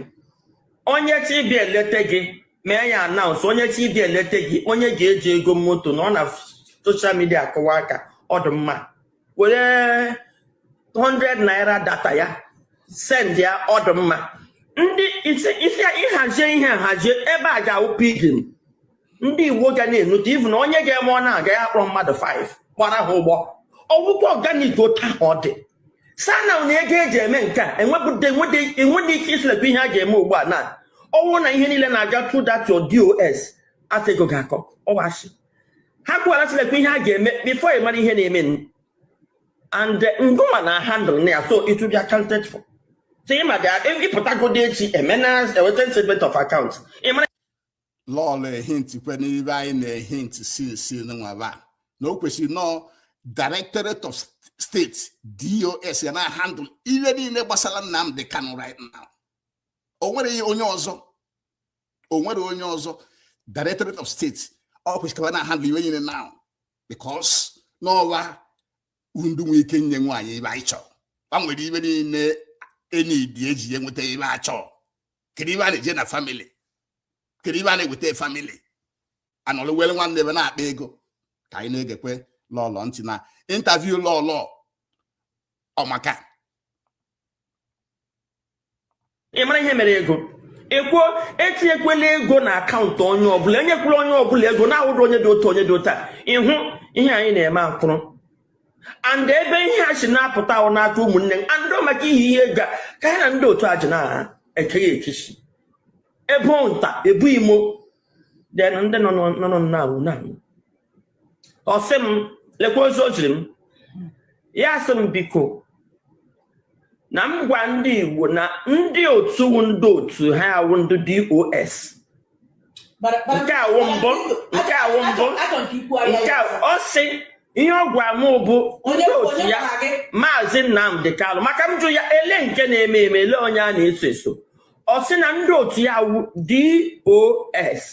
onye chi bịa eleta gị mee ya announce onye chi dị eleta gị onye ga-eji ego moto na ọ na social media akụwa aka ọ dị mma were 100 naira data ya send ya ọ dị mma ndị isi isi a ịhazie ihe nhazie ebe a ga-awụ pigin ndị Igbo ga na-enute ivu na onye ga-eme ọ na-aga ya kpọrọ mmadụ 5 gbara ha ụgbọ ọ wụkwa organic otu ahụ ọ dị sana na ego eji eme nke a enwedị ike isilekwa ihe a ga-eme ugbu a na ọ wụ na ihe niile na-aga through that your DOS afọ ego ga-akọ ọwachi ha kwuwara silekwa ihe a ga-eme before ị mara ihe na-eme and eh, ngụma na handle na ya so it will be accounted for so ị ma ga ịpụtagodi echi emenas eweta statement of account ị mara lọlọ ehint kwe n'ive anyị na-ehint since November na o kwesịrị na ọ directorate of state dos ya na handle ihe niile gbasara Nnamdi Kanu right now o nwerọ onye ọzọ o nwerọ onye ọzọ directorate of state ọ kwesịrị na handle ihe niile now because na ọ va ndị nwee ike inye anyị ive anyị chọrọ va nwere ive niile e needị eji ya nweta ive a chọọ kedu ibe a na-eje na famili kedu ibe a na-eweta famili anọlụ were nwanne ebe na-akpa ego ka anyị na-egekwe lọlọ ntị na intaviu lọlọ ọ maka ị mara ihe mere ego ekwu etinyekwela ego na akaụntụ onye ọbụla enyekwala onye ọbụla ego na-awụrọ onye dị otu onye dị otu a ịhụ ihe anyị na-eme akwụrụ and ebe ihe a si na-apụta wụ n'aka ụmụnne m and ọ maka ihi ihe ga ka ya na ndị otu a ji na-ekeghị ekechi ebu nta ebu imo then ndị nọ nọ na-awụ na ọ sị m lekwa ozi o ziri m ya sị m biko na m gwa ndị Igbo na ndị otu ndị otu ya wụ ndị DOS nke a wụ mbụ nke a wụ mbụ nke ọ sị ihe ọ gwa m bụ ndị otu ya maazị Nnamdi Kanu maka m jụ ya ele nke na-eme eme ele onye a na-eso eso ọ sị na ndị otu ya wụ DOS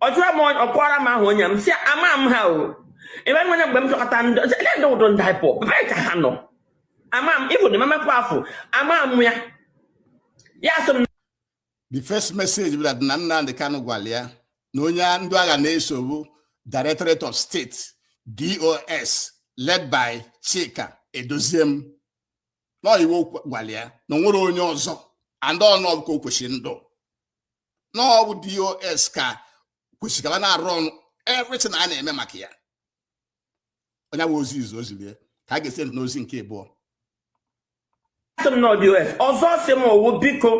ọ jụọ m ọkwara m ahụ onye m sị ama m ha o ebe nwere mgbe m chọkọta ndị ndị ndu ndị IPOB ebee ka ha nọ ama m even Emma Powerful ama m ya ya sị m the first message bụ that na Nnamdi Kanu gwara ya na onye ndị a ga na-eso bụ Directorate of State DOS led by Chika Edoziem na ọ ive ọ gwara ya na o nwerọ onye ọzọ and na ọ bụ ka o kwesịrị ịdụ na ọ bụ DOS ka kwesịrị ka ha na-arun everything a na-eme maka ya onye nwe ozi izizi o ziri ya ka a ga-esi n'ozi nke ịbụọ DOS ọzọ ọ sị m ọ wụ biko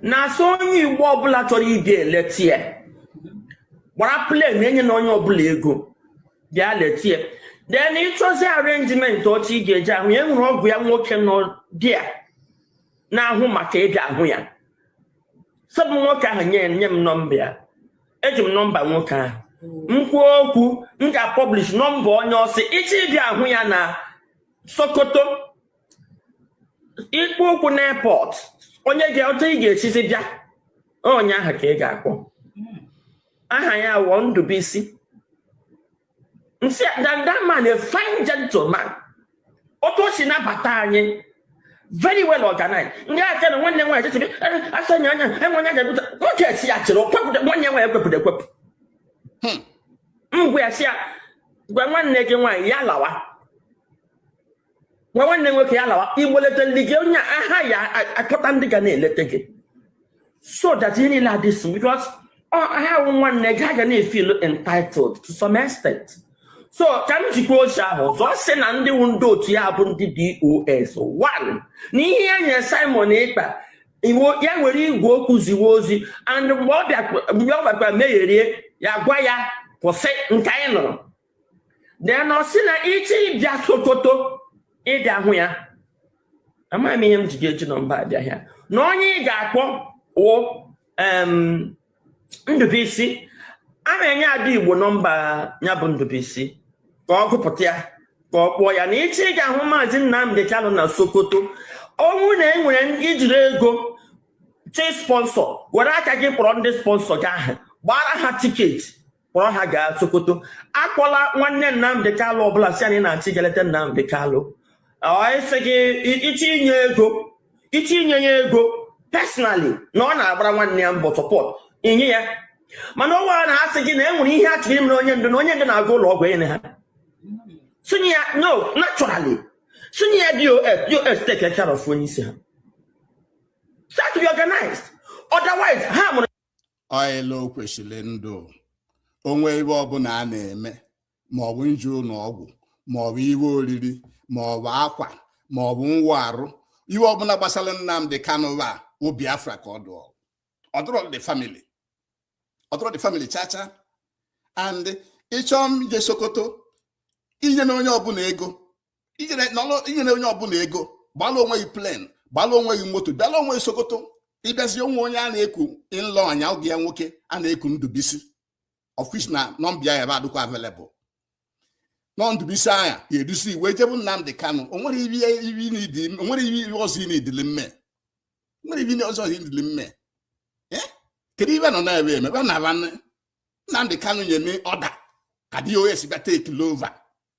na-asị onye igbo ọbụla chọrọ ịbịa letie gbara plen enyena onye ọbụla ego bịa letie then ịchọzi arenjiment otu ị ga-eji ahụ ya e nwere ọgọ ya nwoke nọ there na-ahụ maka ịbịa ahụ ya so ọ bụ nwoke ahụ nye nye m nọmba ya eji m nọmba nwoke ahụ m kwuo okwu m ga-apọblish nọmba onye ọ sị ị chọọ ịbịa ahụ ya na sokoto ị kpọ ụkwụ n'airport onye ga otu ị ga-esizi bịa onye ahụ ka ị ga-akpọ aha ya wụ ndụbụisi nsị that, that man a fine gentleman otu o si nabata anyị very well organized ndị aja na nwanne nwaanyị chịchịrị asa nya anya enwe onye ga-ebute nwoke esi ya chịrị okwepụta nwanne nwaanyị ekwepụta ekwepụ ngwa ya sị ya gwa nwanne gị nwaanyị ya lawa gwa nwanne nwoke ya lawa igboleta ndị gị onye aha ya akpọta ndị ga na-eleta gị so that ihe niile adị so because ha wụ nwanne gị ha ga na-efeel entitled to some extent so ka m jikwa ozi ahụ ọzọ sị na ndị wu ndị otu ya bụ ndị dos one na ihe ya nyere simon ekpa iwu ya nwere igwe okwu ziwe ozi and mgbe ọ bịakwa megherie ya gwa ya kwụsị nke anyị nụrụ then ọ sị na ị chọọ ịbịa sokoto ịbịa hụ ya amaghị m ihe m ji ga-eji nọmba abịa ya na onye ị ga-akpọ wụ ndụbụisi ana m enye ada igbo nọmba ya bụ ndụbụisi ka ọ gụpụta ya ka ọ kpọọ ya na ị chọọ ịga ahụ maazị nnamdị kalụ na sokoto ọ wụ na e nwere ijiri ego chị sponsor were aka gị kpọrọ ndị sponsor gị ahụ gbaara ha ticket kpọrọ ha gaa sokoto akpọla nwanne nnamdị kalụ ọbụla sị anyị na-achọ ịga leta nnamdị kalụ ọ sị gị ị chọọ inye ego ị chọọ inye ya ego personally na ọ na-agbara nwanne ya mbọ support i nye ya mana onwe a na-asị gị na e nwere ihe a chọrọ imere onye ndu na onye ndu na-aga ụlọ ọgwụ enye ha sinye ya no naturally sinye ya dos take care of onye isi ha start to be organized otherwise ha mụrụ ọịla o kwesịrị ịdụ o nwee iwe ọbụla a na-eme ma ọ bụ nje ụnọ ọgwụ ma ọ bụ iwe oriri ma ọ bụ akwa ma ọ bụ nwa arụ iwe ọbụla gbasara Nnamdi Kanu a wụ Biafra ka ọ dụọ ọ dụrọ the family ọ dụrọ the family chacha and ị chọọ ije Sokoto inyena onye ọbụla ego inyena onye ọbụla ego gbalụ onwe gị plane gbalụ onwe gị moto bịalụ onwe gị Sokoto ị bịazi o nwe onye a na-eku Ịlọanya oge ya nwoke a na-eku Ndụbisi of which na nọmba ya ebe adịkwa available nọ Ndụbisi ọ nya ga-eduzi i wee jebụ Nnamdị Kanụ o nwere iwe ọzọ ị na-edili mme nwere iwe ọzọ ị na-edili mme eh? kedu ibe nọ na-ebe eme ebe na Nnamdị Kanụ nye order ka DOS bịa take over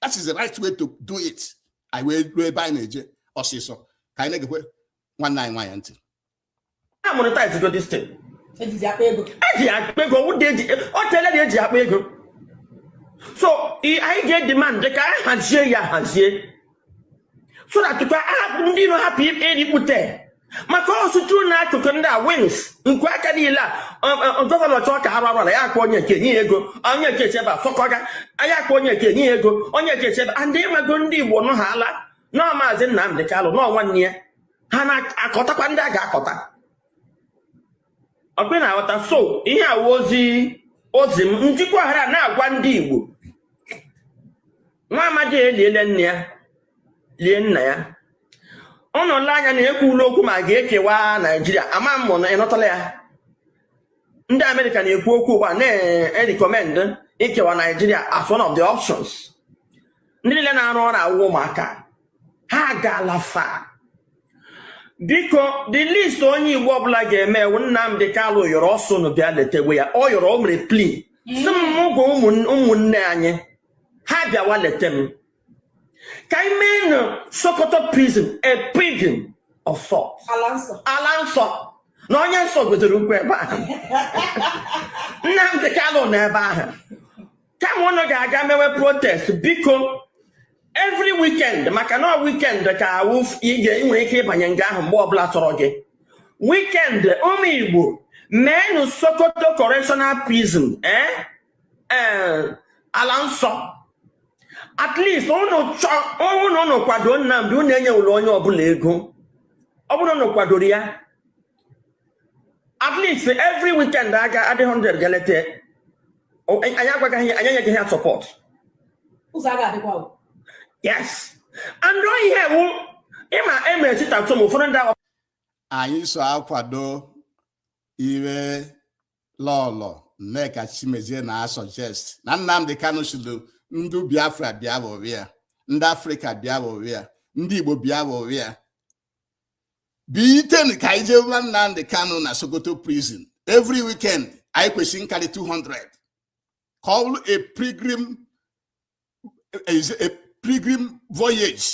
that is the right way to do it anyị wee ruo ebe anyị na-eje ọsịsọ ka anyị na-egekwe nwanne anyị nwaanyị ntị a monetize go this thing e ji akpa ego o tele na e ji akpa ego so anyị ga-edemand ka anyị hazie ya hazie so that ka ahapụ ndị iro hapụ irikpute maka ọsụtụ na akụkụ ndị a wings nku aka niile a um, um, um, gọvanọ chọọ ka arụ arụla ya akpọ onye ga-enye ego onye ga-echebe afọkọga ya akpọ onye ga-enye ego onye ga-echebe and ịmago ndị igbo nụ ha ala nọ maazị Nnamdị Kalụ nọ nwanne ya ha na-akọtakwa ndị a ga-akọta ọkpị na-aghọta so ihe a wụ ozi ozi m njikwa hara na-agwa ndị igbo nwa amadi eliele nne ya lie nna ya ọ nọla anya na ekwula okwu ma a ga-ekewa naijiria ama m na ịnụtala ya ndị amerịka na-ekwu okwu ugbu a na-erecommend ikewa naijiria as one of the options ndị niile na-arụ ọrụ a wụ ụmụaka ha gaala fa biko the least onye igbo ọbụla ga-eme wụ nnamdị kalụ yọrọ ọ sị unu bịa letewe ya ọ yọrọ o mere plea sị m gwa ụmụnne anyị ha bịawa leta m ka anyị meenụ sokoto prison a prison of sort ala nsọ ala nsọ na onye nsọ wetere ụkwụ ebe ahụ nnamdị kalụ nọ ebe ahụ kama ụnụ ga-aga mewe protest biko every weekend maka na weekend ka ọ wụ ị ga-enwere ike ịbanye nga ahụ mgbe ọbụla sọrọ gị weekend ụmụ igbo meenụ sokoto correctional prison eh? eh, ala nsọ at least ụnụ chọ ọ wụ na ụnụ kwado Nnamdi ụnụ enyewụla onye ọbụla ego ọ bụrụ na ụnụ kwadoro ya at least every weekend a ga-adị 100 ga-eleta ya. O- anyị agwagaghị ya anyị enyeghị ya support ụzọ a ga-adịkwa o. yes and ọ ihe a wụ ịma emere chita tum ụfọdụ ndị agwa anyị so akwado ihe lọlọ nneka chimezie na-asuggest na nnamdị kanu sịlụ ndị biafra bịa hụrụ ya ndị afrịka bịa hụrụ ya ndị igbo bịa hụrụ ya biten ka anyị jee gwa nnamdị kanu na sokoto prison every weekend anyị kwesịrị ịkarị 200 ka ọ bụrụ a pilgrim a pilgrim voyage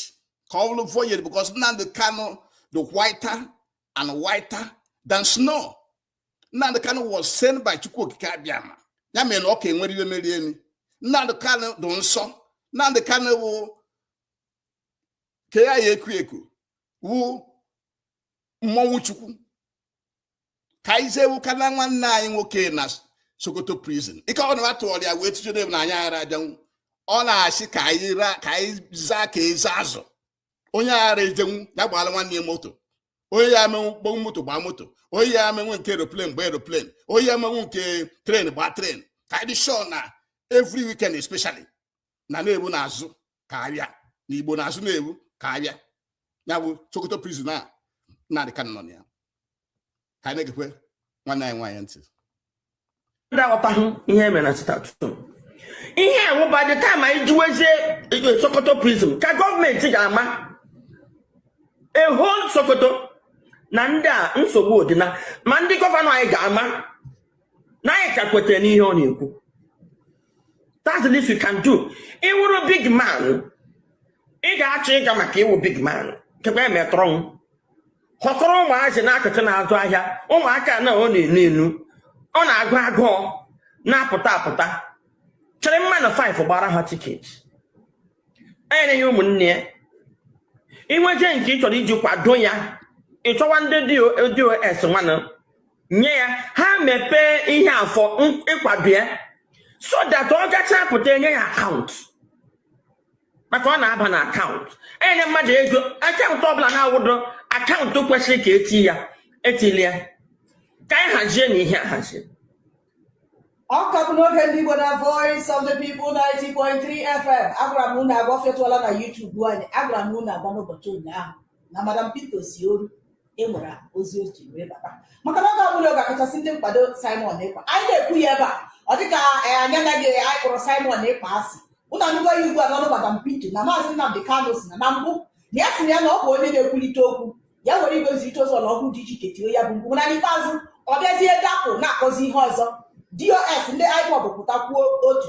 ka ọ bụrụ voyage because nnamdị kanu dị whiter and whiter than snow Nnamdi Kanu was sent by Chukwu Okike Abịama ya mere na ọ ka enwere iwe meri emi Nnamdi Kanu dị nsọ Nnamdi Kanu wụ ka ya ya eku eku wụ mmọnwụ Chukwu ka anyị jee hụkwanụ nwanne anyị nwoke na Sokoto prison ike ọ na-atụọrọ ya wee tụjere na anyị ara abịanwu ọ na-asị ka anyị zaa ka eze azụ onye aghara ejenwu ya gbaala nwanne ya moto onye ya amenwu ụgbọ moto gbaa moto onye ya amenwu nke aeroplane gbaa aeroplane onye ya amenwu nke train gbaa train ka anyị dị sure na every weekend especially na n'ebe ahụ na-azụ ka ahịa na igbo na-azụ n'ebe ahụ ka ahịa ya bụ sokoto prison Nnamdi Kanu nọ na ya ka anyị na-egekwe nwanne anyị nwaanyị ntị ndị aghọtaghị ihe e mere na sit at home ihe ahụ by the time anyị juwezie eh, sokoto prison ka gọọmenti ga-ama a whole sokoto na ndị a nsogbu adịna ma ndị gọvanọ anyị ga-ama na anyị ka kwetara n'ihe ọ na-ekwu that's the least we can do ị wụrụ big man ị ga-achọ ịga maka ị wụ big man kekwa emetrọnwụ họkọrọ ụmụazị n'akụkụ na-azụ ahịa ụmụaka na ọ na-enu enu ọ na-agụ agụ ọ na-apụta apụta chịrị mmadụ 5 gbaara ha tiketi enyere ya ụmụnne ya i nwezie nke ị chọrọ iji kwado ya ị chọwa ndị DOS nwanụ nye ya ha mepee ihe a for ịkwado ya so that ọ gacha pụta e nye ya akaụntụ maka ọ na-aba na akaụntụ e nye mmadụ ego akaụntụ ọbụla na-awụdo akaụntụ kwesịrị ka eti ya etili ya ka anyị hazie na ihe ahazi ọ ka bụ n'oge ndị Igbo na Voice of the People 90.3 FM agwara m unu agwa fetụọla na YouTube anyị agwara m unu agwa n'ụbọchị ụnyaahụ na Madam Pito si Oru e nwere ozi o ji wee bata maka na oge ọbụla ọ ga-akachasị ndị nkwado Simon Ekpa anyị na-ekwu ya ebe a ọ dịka eh, anyị anaghị anyị kpọrọ Simon Ekpa asị unu anụgo ya ugbu a n'ọnụ Madam Pito na maazị Nnamdi Kanu sị na na mbụ na ya sị na ya na ọ bụ onye na-ekwulite okwu ya were igwe nzirịta ozi ọlọrọ ọhụrụ dị iche iche tie ya bụ mkpu na n'ikpeazụ ọ bịazie dapụ na-akọzi ihe ọzọ DOS ndị IPOB pụta kwuo otu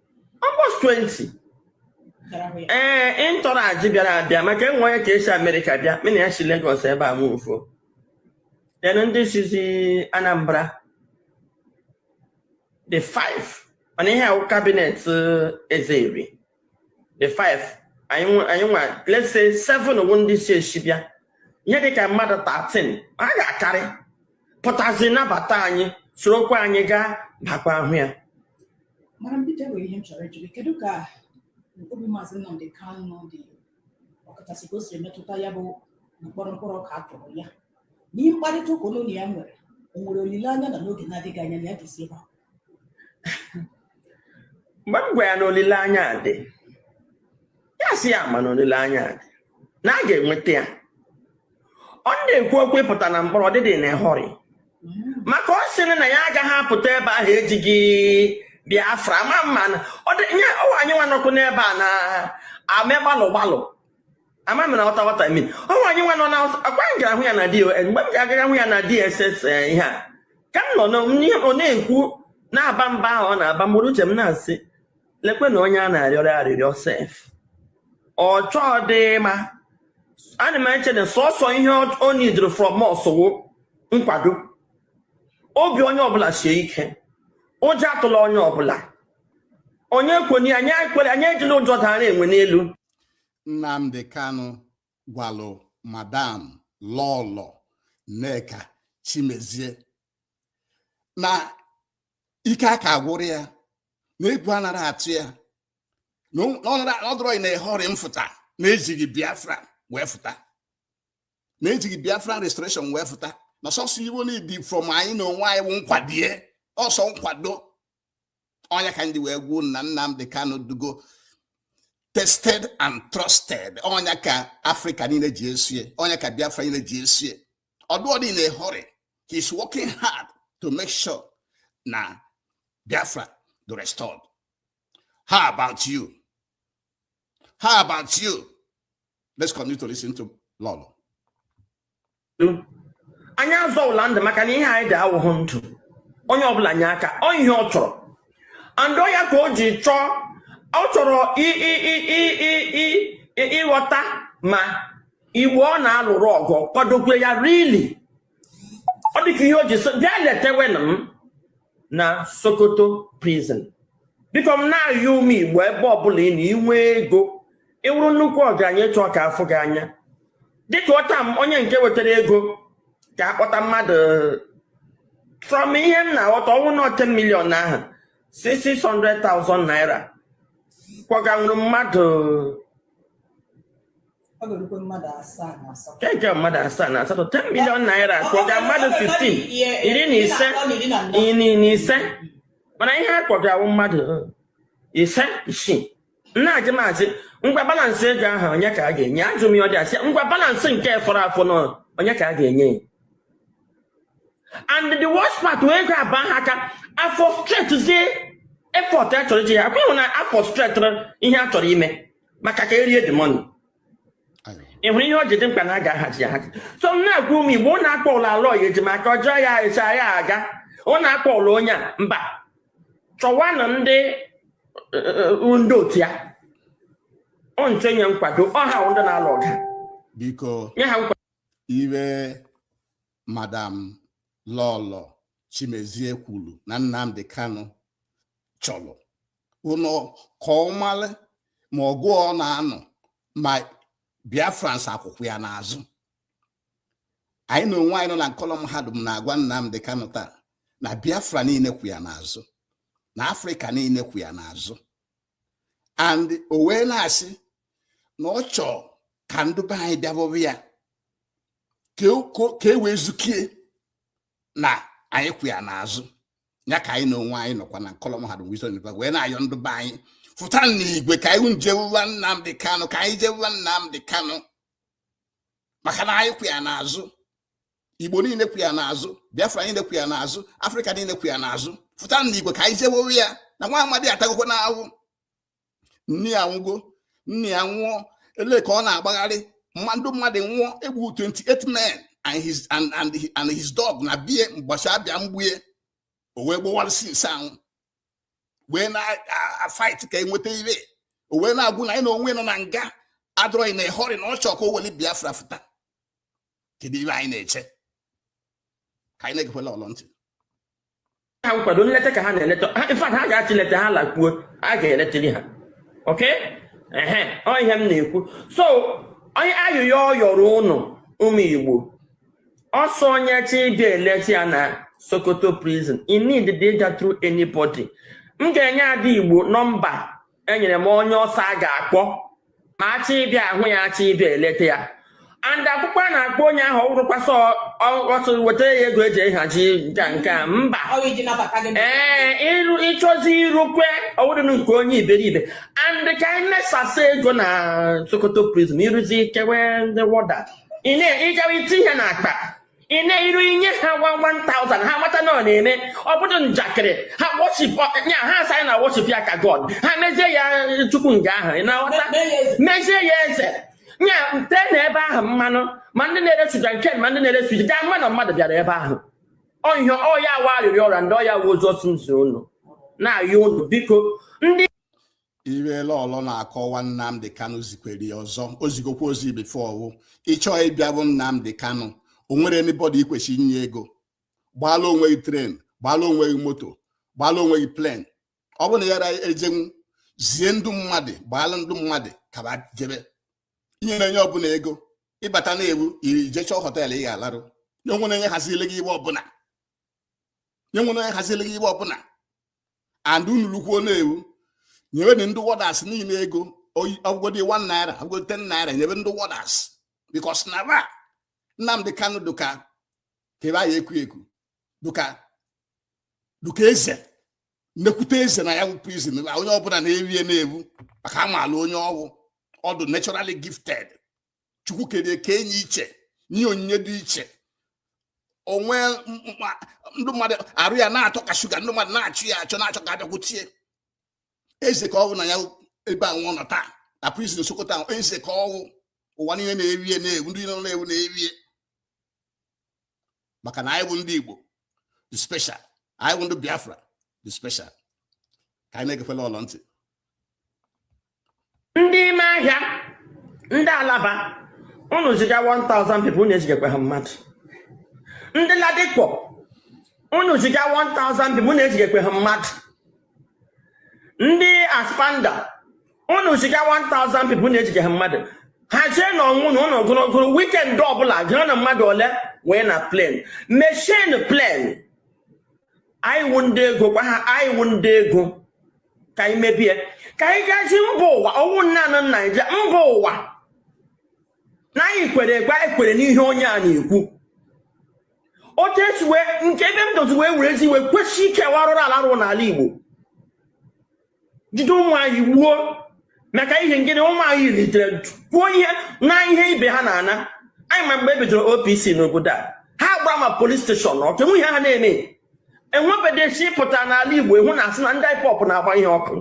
almost 20 ee entourage bịara abịa maka e nwee onye ka esi America bịa mụ na ya si Lagos ebe a wụ four then ndị sizi Anambra dị five mana ihe ahụ cabinet Eze Eri dị five anyị nwe- anyị nwa let's say seven wụ ndị si ezi bịa ihe dịka mmadụ 13 ha ga-akarị pụtazi nabata anyị sorokwa anyị gaa bakwa ahụ ya Madam Pito nwere ihe m chọrọ ịjụ gị kedu ka obi maazị Nnamdi Kanu dị ọkachasị ka o siri metụta ya bụ mkpọrọ mkpọrọ ka a tụrụ ya n'ime mkparịta ụka unu na ya nwere o nwere olileanya na n'oge na-adịghị anya na ya ga-esi ebe a mgbe m gwa ya na olileanya dị ya sị ya ma na olileanya dị na a ga-enweta ya ọ na-ekwu okwu ịpụta na mkpọrọ ọ dịghịdị in a hurry maka ọ sịrị na ya agaghị apụta ebe ahụ ejighị biafra ma mana ọ dị nye ọ wụ anyịnwa nọkọ n'ebe a na-eme gbalụ gbalụ ama m ị na-aghọta what I mean ọ wụ anyịnwa nọ na-akwa m gara hụ ya na DSS mgbe m ga-agaga hụ ya na DSS eh, ihe a ka m nọ na- n'ihe ọ na-ekwu na-aba mba ahụ ọ na-aba m buru n'uche m na-asị lekwe na onye a na-arịọrọ arịrịọ sef ọ chọghịdị ịma ana m eche na sọsọ ihe o needịrị from us wụ nkwado obi onye ọbụla sie ike ụjọ atụla onye ọbụla onye kwenye anyị ekwere anyị ejila ụjọ dara enwe n'elu Nnamdi Kanu gwalụ madam lọlọ Nneka Chimezie na ike aka agwụrọ ya na egwu anaghị atụ ya na ọ dịrọ in a hurry ịfụta na ejighị biafra wee fụta na ejighị biafra restoration wee fụta na sọsọ ife o needị from anyị na onwe anyị wụ nkwado ọ sọ nkwado ọ nya ka m ji wee kwuo na Nnamdi Kanu adụgo tested and trusted ọ nya ka Afrịka niile ji esie ọ nya ka Biafra niile ji esie ọ dịrọdị in a hurry, he's working hard to make sure na Biafra dị restored. How about you? How about you? Let's continue to listen to Lolo. anyị azọwụla ndụ maka na ihe anyị dị awụghụ ndụ onye ọbụla nye aka ọ ihe ọ chọrọ and ọ ya ka o ji chọọ ọ chọrọ ịghọta ma igbo ọ na-alụrụ ọgụ kwadokwe ya really ọ dịka ihe o ji sị bịa letewenụ m na sokoto prison biko m na-ayọ ụmụ igbo ebe ọbụla ị nọ i nwee ego ị wụrụ nnukwu ọgaranya ị chọọ ka a fụ gị anya dịka ọta m onye nke wetara ego ka a kpọta mmadụ from ihe m na-aghọta ọ wụrụ na 10 million ahụ 600,000 naira kpọganwuru mmadụ Ego mmadụ asaa na asatọ 10 million naira kpọga mmadụ 15 iri na ise iri na ise mana ihe a kpọgara wụ mmadụ uh, ise isii na-ajụ m asị ngwa balansị ego ahụ onye ka a ga-enye ajụ m ya ọ dị asị ngwa balansị nke fọrọ afọ na onye ka a ga-enye and the worst part wụ ego aba ha aka a frustratezie effort a chọrọ iji ya akwa ị hụ na a frustratịrị ihe a chọrọ ime maka ka erie the money ị hụrụ ihe o ji dị mkpa na a ga-ahazi ya ahazi so m na-agwa ụmụ igbo ụnụ akpọ ụlọ Aloy Ejimakor ọjọọ ya echa ya aga ụnụ akpọ ụlọ onye a mba chọwanụ ndị eh, eh, eh, ndị otu ya ọ nche nye nkwado ọha ndị na-alụ ọgụ biko nye ha nkwado ihe madam lọlọ chimezie kwuru na Nnamdi Kanu chọrọ ụnọ ka ọ mara ma ọgụ ọ na-anụ ma biafrans akwụkwa ya n'azụ anyị na onwe anyị nọ na nkọlọ mahadum na-agwa Nnamdi Kanu taa na biafra niile kwụ ya n'azụ na afrịka niile kwụ ya n'azụ and o wee na-asị na ọ chọrọ ka ndị be anyị bịabọbụ ya ka e wee zukie na anyị kwụ ya n'azụ ya ka anyị na onwe anyị nọkwa na nkọlọ mahadum Wisdom University wee na-ayọ ndị be anyị fụta n'igwe ka anyị jewuwa Nnamdi Kanu ka anyị jewuwa Nnamdi Kanu maka na anyị kwụ ya n'azụ Igbo niile kwụ ya n'azụ Biafra niile kwụ ya n'azụ Afrịka niile kwụ ya n'azụ fụta n'igwe ka anyị jewewe ya na nwa amadi a atagokwanụ ahụhụ nne ya anwụgo nna ya anwụọ ele ka ọ na-agbagharị mmadụ mmadụ nwụọ e gbuo 28 men and his and and and his dog na be ye mbọchị a bịa igbu ye o wee gbowara since ahụ wee na-afight ka e nweta ihe o wee na-agwụ na anyị na onwe nọ na nga adọrọghị na ịhọrị na ọ chọrọ ka o weli biafra fụta kedu ihe anyị na-eche ka anyị na-egekwala lọlọ ntị ha nkwado nleta ka ha na-eleta ife ha ga-achị leta ha lakpuo a ga-eletiri ha okay ehe ọ ihe m na-ekwu so onye ayịyọ ọ yọrọ ụnụ ụmụ igbo ọ sị onye chọọ ịbịa eleta ya na sokoto prison i needighị ịga through anybody m ga-enye ndị igbo nọmba enyere m onye ọ sị a ga-akpọ ma a chọọ ịbịa ahụ ya a chọọ ịbịa eleta ya and ọkpụkpọ a na-akpọ onye ahụ ọ wụrọkwa sị weta ya ego eji ahazi nka nke a mba ee ịrụ ịchọzi irukwe ọwụdịnụ nke onye iberibe and ka anyị mesasa ego na sokoto prison i ruzie kewe ndị warder ị na-ejewe i tie ihe n'akpa ị na-eru i nye ha 1000 ha mata na ọ na-eme ọ bụrọ njakịrị ha worship ya ha asị na worship ya ka god ha mezie ya chukwu nga ahụ ị na-aghọta mezie ya eze nya tee na ebe ahụ mmanụ ma ndị na-ere suja nke ma ndị na-ere suja ga-ama na mmadụ bịara ebe ahụ ihe a ọ ya wụ arịrịọ ọ rịọ ndị ọ ya wụ ozi ọ sị m zi unu na-ayọ unu biko ndị ihe Lọlọ na-akọwa Nnamdi Kanu zikwere ya ọzọ o zigokwa ozi bifo ọ wụ ị chọọ ịbịa hụ Nnamdi Kanu o nwere anybody i kwesị inye ego gbaala onwe gị tren gbaala onwe gị moto gbaala onwe gị plen ọ bụ na ya ejenwu zie ndị mmadụ gbaala ndị mmadụ ka ba jebe i nyena onye ọbụla ego ị bata n'ebe ahụ i jechọọ họteelụ ị ga-alarụ o nwena onye hazili gị iwe ọbụla nye nwere onye haziri gị ihe ọbụla and unu lukwuo n'ebe ahụ nyebe ndị wọdas niile ego ọ wụgodi 1 naira ọ wụgodi 10 naira nyebe ndị wọdas bikos na ba Nnamdi Kanu dụka kebe anyị ekwu ekwu dụka dụka eze nnekwute eze na ya bụ prizin onye ọbụla na-efe ya n'ebe ahụ maka a maala onye ọ wụ ọ dụ naturally gifted chukwu kerie kenye iche nye onyinye dị iche o nwe ndị mmadụ arụ ya na-atọ ka shuga ndị mmadụ na-achụ ya achọ na-achọ ka a bịakwutie eze ka ọ wụ na ya ebe ahụ ọ nọ taa na prison Sokoto ahụ eze ka ọ wụ ụwa niile na-efe ya n'ebe ahụ ndị nọ n'ebe ahụ na-efe ya maka na anyị bụ ndị Igbo dị special anyị bụ ndị Biafra dị special ka anyị na-egekwe Lọlọ ntị ndị ime ahịa ndị Alaba unu ziga 1000 people unu ezigekwe ha mmadụ ndị Ladipo unu ziga 1000 people unu ezigekwe ha mmadụ ndị Aspamda unu ziga 1000 people unu ejigekwe ha mmadụ ha jee na ọnwụ na ụlọ ogologo wikend ọbụla gịrị na mmadụ ole wee na plen mechie plen anyị wụ ndị ego gwa ha anyị wụ ndị ego ka anyị mebie ka anyị gaji mba ụwa ọ wụ naanị Naijiria mba ụwa na anyị kwere ekwe anyị kwere n'ihe onye a na-ekwu otu esi wee nke ebe m dozi wee were ezi wee kwesị ike arụrụ ala a rụrụ n'ala Igbo jide ụmụ anyị gbuo maka ihe ngịnị ụmụ anyị bilitere kwuo ihe na ihe ibe ha na-ana anyị ma mgbe e bidoro OPC n'obodo a ha gbara ma polis steshọn ọkụ o nwe ihe ha na-eme enwebedesi pụta n'ala Igbo ị hụ na a sị na ndị IPOB na-agba ihe ọkụ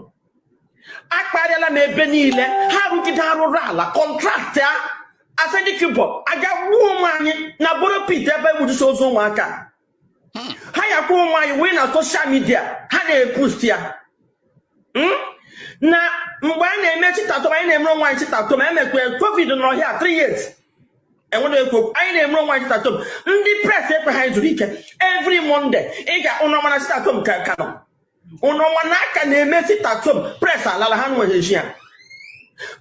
akparịala m ebe niile ha rụgide arụrụ ala kọntraktị a Asari Dokubo a ga gbuo ụmụ anyị na boro pit ebe e butusi ozu ụmụaka hmm. ha yakwa ụmụ anyị wee na soshal midia ha na-epost ya hmm? na mgbe anyị na-eme sit at home anyị na-emere onwe anyị sit at home e mekwe covid n'ọhịa 3 years enwere ekwu okwu anyị na-emere onwe anyị sit at home ndị pres ekwe ka zuru ike evri monde ị ga unu ma na sit at home ka ka nọ unu ma na a ka na-eme sit at home pres alala ha nwere ji ya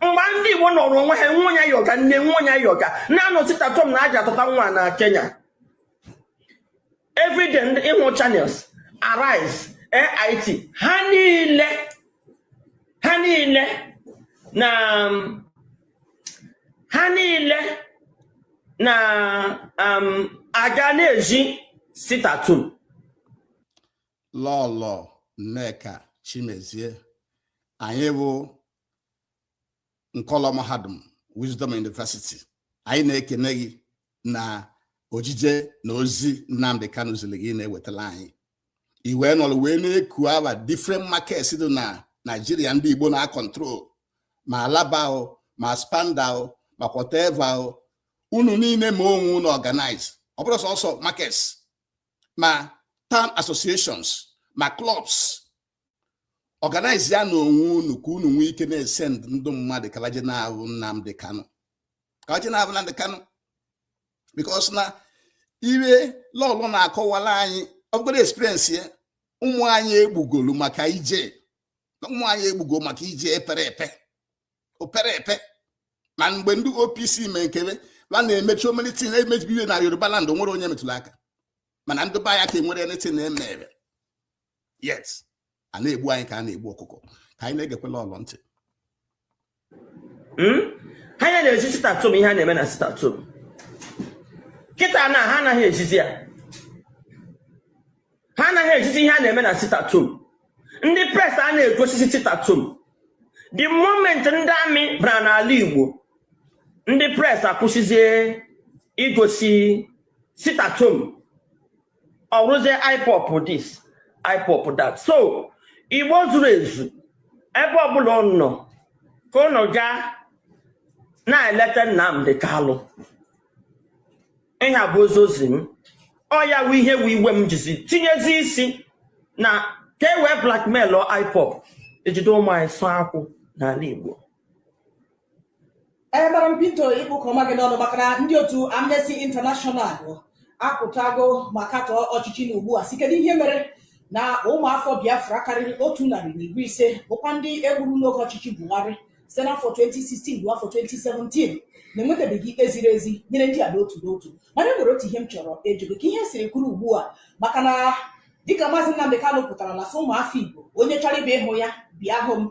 mgbe ndị Igbo nọrọ onwe ha nwayọọ ga nne nwayọọ ga na-anọ sit at home na a jee tụta nwa na Kenya everyday ndị ịhụ Channels Arise AIT ha niile ha niile na ha niile na um, a ga na-ezi sit-at-home Lọlọ Nneka Chimezie anyị bụ nkọlọ mahadum Wisdom University anyị na-ekene gị na ojije na ozi Nnamdi Kanu ziri gị ị na-ewetala anyị i wee nọrọ wee na-ekwu about different markets dị na Naijiria ndị Igbo na-acontrol ma Alaba ma Aspanda ma whatever unu niile mee onwe unu organize ọ bụrọ sọsọ markets ma town associations ma clubs organize ya na onwe unu ka unu nwee ike na-esend ndị mmadụ ka ba je na-ahụ Nnamdi Kanu ka ba je na-ahụ Nnamdi Kanu because na iwe Lọlọ na-akọwala anyị ọ bụgoro experience ya ụmụ anyị egbugoro maka ije ụmụ anyị egbugo maka ije epere epe o pere epe ma mgbe ndị OPC mee nke be ba na-emechi omelitin emebi iwe na Yoruba land nwere onye metụrụ aka mana ndị be anya ka e nwere anything na-emere yes a na-egbu anyị ka a na-egbu ọkụkọ ka anyị na-egekwa Lọlọ ntị hmm? ha ya na-ezi sit-at-home ihe a na-eme na sit-at-home kịta na ha anaghị ezizi ya ha anaghị ezizi ihe a na-eme na sit-at-home ndị press anaghị egosizi sit-at-home the moment ndị army bara n'ala Igbo ndị press akwụsịzie igosi sit-at-home ọ bụrụzie IPOB this IPOB that so Igbo zuru ezu ebe ọbụla unu nọ ka unu gaa na-eleta Nnamdi Kanu ihe a bụ ozi ozi m ọ ya wụ ihe wụ iwe m jizi tinyezi isi na ka e wee blackmail IPOB e jide ụmụ anyị sụọ akwụ n'ala Igbo Gbaghara m Pinto ịkpụ comma gị n'ọnụ maka na ndị otu Amnesty International apụtago ma katọọ ọchịchị nọ ugbu a sị kedu ihe mere na ụmụafọ Biafra karịrị otu narị na iri ise bụkwa ndị e gburu n'oge ọchịchị Buhari site n'afọ 2016 ruo afọ 2017 na-enwetabeghị ikpe ziri ezi nyere ndị a n'otu n'otu mana e nwere otu ihe m chọrọ ịjụ gị ka ihe siri kwụrụ ugbu a maka na dịka maazị Nnamdi Kanu pụtara na-asị ụmụafọ Igbo onye chọrọ ịbịa ịhụ ya bịa hụ m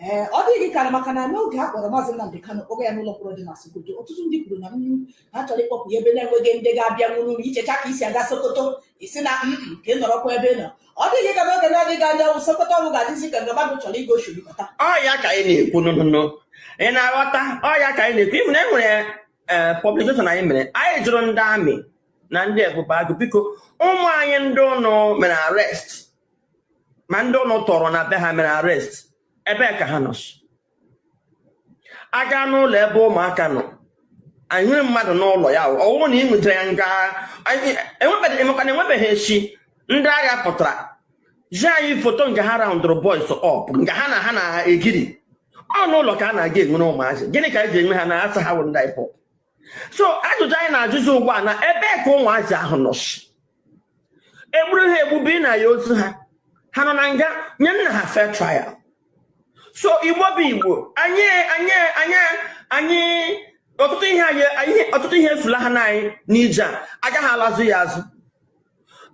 ee ọ dịghị ka maka na n'oge a kpọrọ maazị Nnamdi Kanu kpọga ya n'ụlọ mkpọrọ dị na Sokoto ọtụtụ ndị kwuru na mm, ha chọrọ ịkpọpụ ya ebe na-enweghị ndị ga-abịa nwụrụ unu i chechaa ka e si aga Sokoto ị sị na mm, mm, ka ị nọrọkwa ebe ị nọ ọ dịghị ka n'oge na-adịghị anya wụ Sokoto ahụ ga-adịzi ka mgbe mmadụ chọrọ ịga Oshirikọta ọ ya ka anyị na-ekwu nụnụnụ ị na-aghọta ọ ya ka anyị na-ekwu even e nwere ee publication anyị mere anyị jụrụ ndị army na ndị ebube agụ biko ụmụ anyị ndị unu mere arrest ma ndị unu tọọrọ na be ha mere arrest ebee ka ha nọ a gaa n'ụlọ ebe ụmụaka nọ anyị nwere mmadụ n'ụlọ ya ọ wụrụ na ị nwetara ya nga emekwana enwebeghị echi ndị agha pụtara zi anyị foto nga ha roundụrụ boys up nga ha na ha na-egiri ọ n'ụlọ ka a na-aga e nwere ụmụazị gịnị ka e ji enwe ha na a sị ha wụ ndị IPOB so ajụjụ anyị na-ajụzi ugbu a na ebee ka ụmụazị ahụ nọ e gburu ha egbu bunye anyị ozu ha ha nọ na nga nyenụ ha fair trial so Igbo bụ Igbo anyị anyị anyị anyị ọtụtụ ihe anyị ọtụtụ ihe efulahana anyị n'ije a agaghị alazụ ya azụ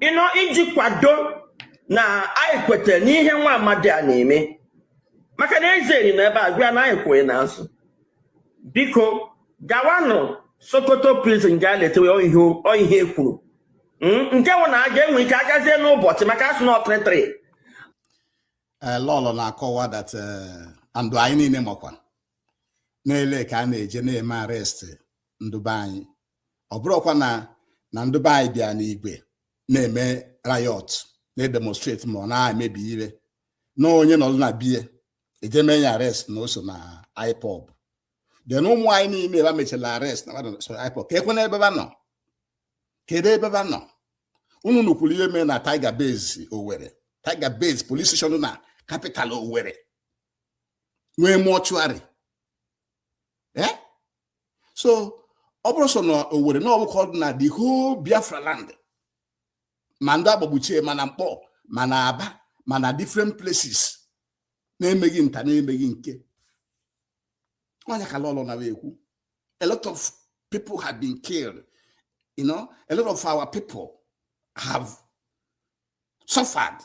you know iji kwado na anyị kweta n'ihe nwa amadi a na-eme maka na eze eri n'ebe a gwa ya na anyị kwụ gị n'azụ biko gawanụ Sokoto prison gaa letewe ihe e kwuru hmm? nke bụ na a ga-enwe ike agazie n'ụbọchị maka a sị na ọ three three eh, Lọlọ na-akọwa that eh, and anyị niile makwa n'ele ka a na-eje na-eme arrest ndị be anyị ọ bụrọkwa na ndị be anyị bịa n'igwe na-eme riot na-edemonstrate ma ọ na-emebi ihe na onye nọdụ na be ya e je mee ya arrest na o so na IPOB then ụmụ anyị niile ba mechara arrest na so IPOB keekwanụ ebe ba nọ kedu ebe ba nọ unu nụkwuru ihe mee na Tiger Base Owerri Tiger Base police station na capital Owerri nwee mortuary so ọ bụrọ sọ na Owerri na ọ bụ ka ọ dị na the whole Biafra land ma ndị a gbagbuchie ma na Nkpọ ma na Aba ma na different places na-emeghị nta na-emeghị nke onye ka Lọlọ na-ekwu a lot of people have been killed you know a lot of our people have suffered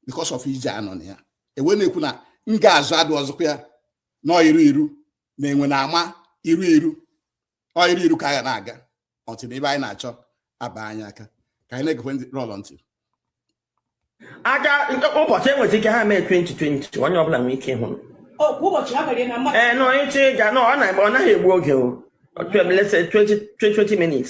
because of ije a nọ na ya e wee na-ekwu na nga azụ adịrọzikwa ya na ọ iru iru na e wee na-aba iru iru ọ iru iru ka a ga na-aga until ife anyị na-achọ aba anyị aka ka anyị na-egekwe ndị Lọlọ ntị a gaa ụbọchị e nwezi ike ha mee 20 20 onye ọbụla nwee ike ịhụ ee nọ ịchị ịga nọ ọ naghị egbu oge o 20 minutes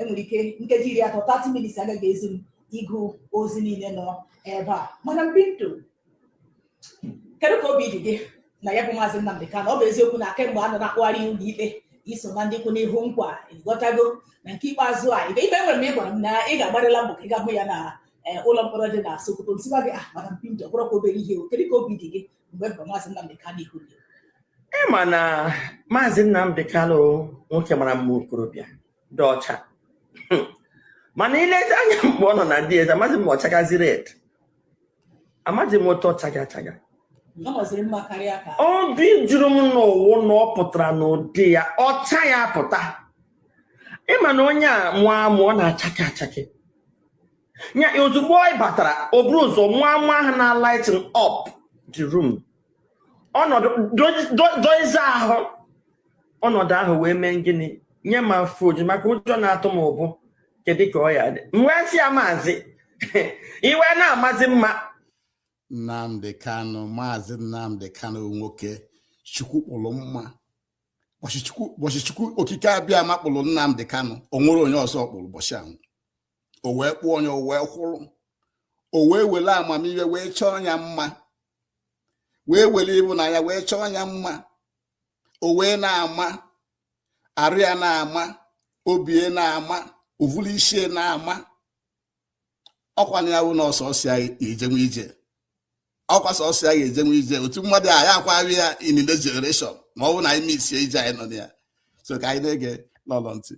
enwere ike nkeji iri atọ 30 minutes agaghị ezu m ịgụ ozi niile nọ ebe a madam Pinto kedu ka obi dị gị na ya bụ maazị Nnamdi Kanu ọ bụ eziokwu na kemgbe a nọ na-akpụgharị ya ụlọ ikpe i so na ndị kwụ n'ihu nkwa ịghọtago na nke ikpeazụ a ikpe e nwere m ị gwara m na ị ga-agbarịla mbọ ka ị ga-ahụ ya na eh, ụlọ mkpọrọ dị na Sokoto m sịba gị ah madam Pinto ọ bụrọkwa obere ihe o kedu ka obi dị gị mgbe mbụ maazị Nnamdi Kanu ihu gị ị ma na maazị Nnamdi Kanu nwoke mara mma okorobịa dị ọcha Hmm. mana i lezi anya mgbe ọ nọ na DSS amaghị m ma ọ chagazi red amaghị m otu ọ chaga achaga ọ maziri mma karịa ka obi juru m n'ụwụ na ọ pụtara n'ụdị ya ọcha ya pụta ịma na onye a mụọ amụ ọ na-achake achake nya ozugbo ọ batara o buru ụzọ nwa nwa ahụ na lighten up the room ọnọdụ doize ahụ ọnọdụ ahụ wee mee gịnị nye m afọ oju maka ụjọ na-atụ m ụbụ kedu ka ọ ya-adị m wee sị ya maazị i wee na-amazi mma Nnamdi Kanu maazị Nnamdi Kanu nwoke chukwu kpụrụ mma ụbọchị chukwu okike Abịama kpụrụ Nnamdi Kanu o nwerọ onye ọzọ ọ kpụrụ ụbọchị ahụ o wee kpụọ nya o wee kwụrụ o wee were amamihe wee chọọ ya mma wee were ịhụnanya wee chọọ ya mma o wee na-ama arụ ya na-ama obi e na-ama ụvụlụ ishi e na-ama ọkwa na ya bụ na ọ sọsọ ya ejenwu ije ọkwa sọsọ ya ga-ejenwu ije otu mmadụ a ya akwaghị ya in the generation ma ọ bụ na anyị misie ije anyị nọ na ya so ka anyị na-ege lọlọ ntị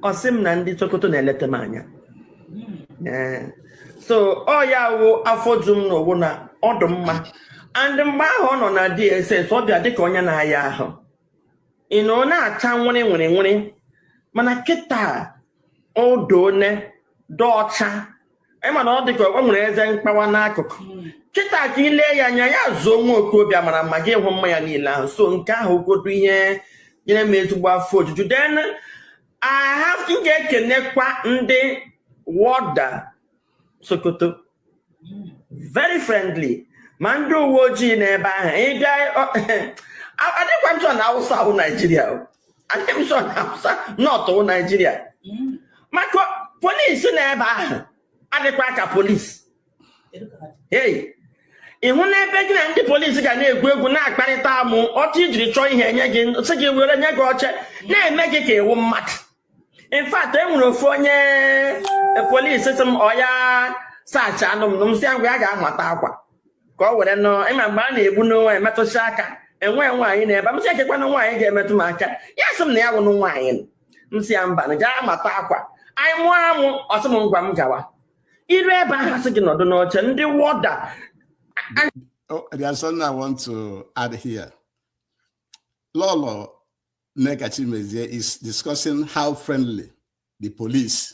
ọ sị m na ndị Sokoto na-eleta m anya Ee. so ọ ya wụ afọ ju m n'owu na ọ dị mma and mgbe ahụ ọ nọ na DSS ọ bịa dịka onye na-aya ahụ ị na ọ na-acha nwere nwere nwere mana kịta ọ dị onye dị ọcha ịma na ọ dị ka o nwere eze mkpawa n'akụkụ hmm. kịta ka i le ya anya ya zuo nwa okorobịa mara mma gị hụ mma ya niile ahụ so nke ahụ godu ihe nyere m ezigbo afọ ojuju then aha m ga-ekenekwa ndị warder Sokoto hmm. very friendly ma ndị uwe ojii n'ebe ahụ ị bịa adịkwa m sure na Awụsa wụ Naijiria adị m sure na Hausa north wụ Naijiria maka polisi na ebe ahụ adịkwa ka polisi hei ị hụ n'ebe gị na ndị polisi ga na-egwu egwu na-akparịta amụ otu i jiri chọọ ihe e nye gị sị gị were nye gị oche na-eme gị ka ị wụ mmadụ in fact e nwere ofu onye polisi sị m ọ ya search anụ m na m sị ya ngwa ya ga-amata akwa ka ọ were nọọ ịma mgbe a na-egbu n'onwe emetụsị aka e nwe nwaanyị nọ ebe m sị kekwanụ nwaanyị ga-emetụ m aka ya sị m na ya wụnụ nwaanyị m sị ya mba na gaa mata akwa anyị mụọ amụ ọ sị m ngwa m gawa iru ebe ahụ sị gị nọdụ n'oche ndị warder oh, there's something I want to add here. Lolo Nneka Chimezie is discussing how friendly the police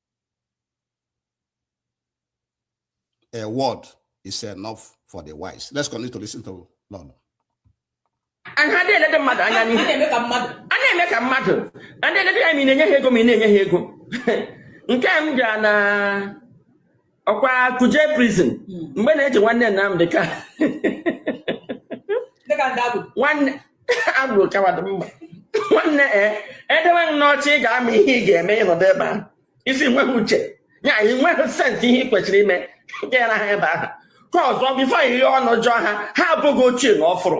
A word is enough for the wise. Let's continue to listen to Lolo. ha adịghị elede mmadụ anya n'ihu na-eme ka mmadụ a na-eme ka mmadụ a na-elede ya ma ị na-enye ha ego ma ị na-enye ha ego nke a m bịara na ọkwa Kuje prison hmm. mgbe a na-eji nwanne Nnamdị Kanu nwanne ị bụrụ coward nwanne e dewe n'oche ị ga-ama ihe ị ga-eme ị nọdụ ebe ahụ ị sị ị nweghị uche ya ị nweghị sense ihe ị kwesịrị ime gara ha ebe ahụ ka ọzọ before ị ghee ọnụ jụọ ha ha abụghị ochie na ọfụrụ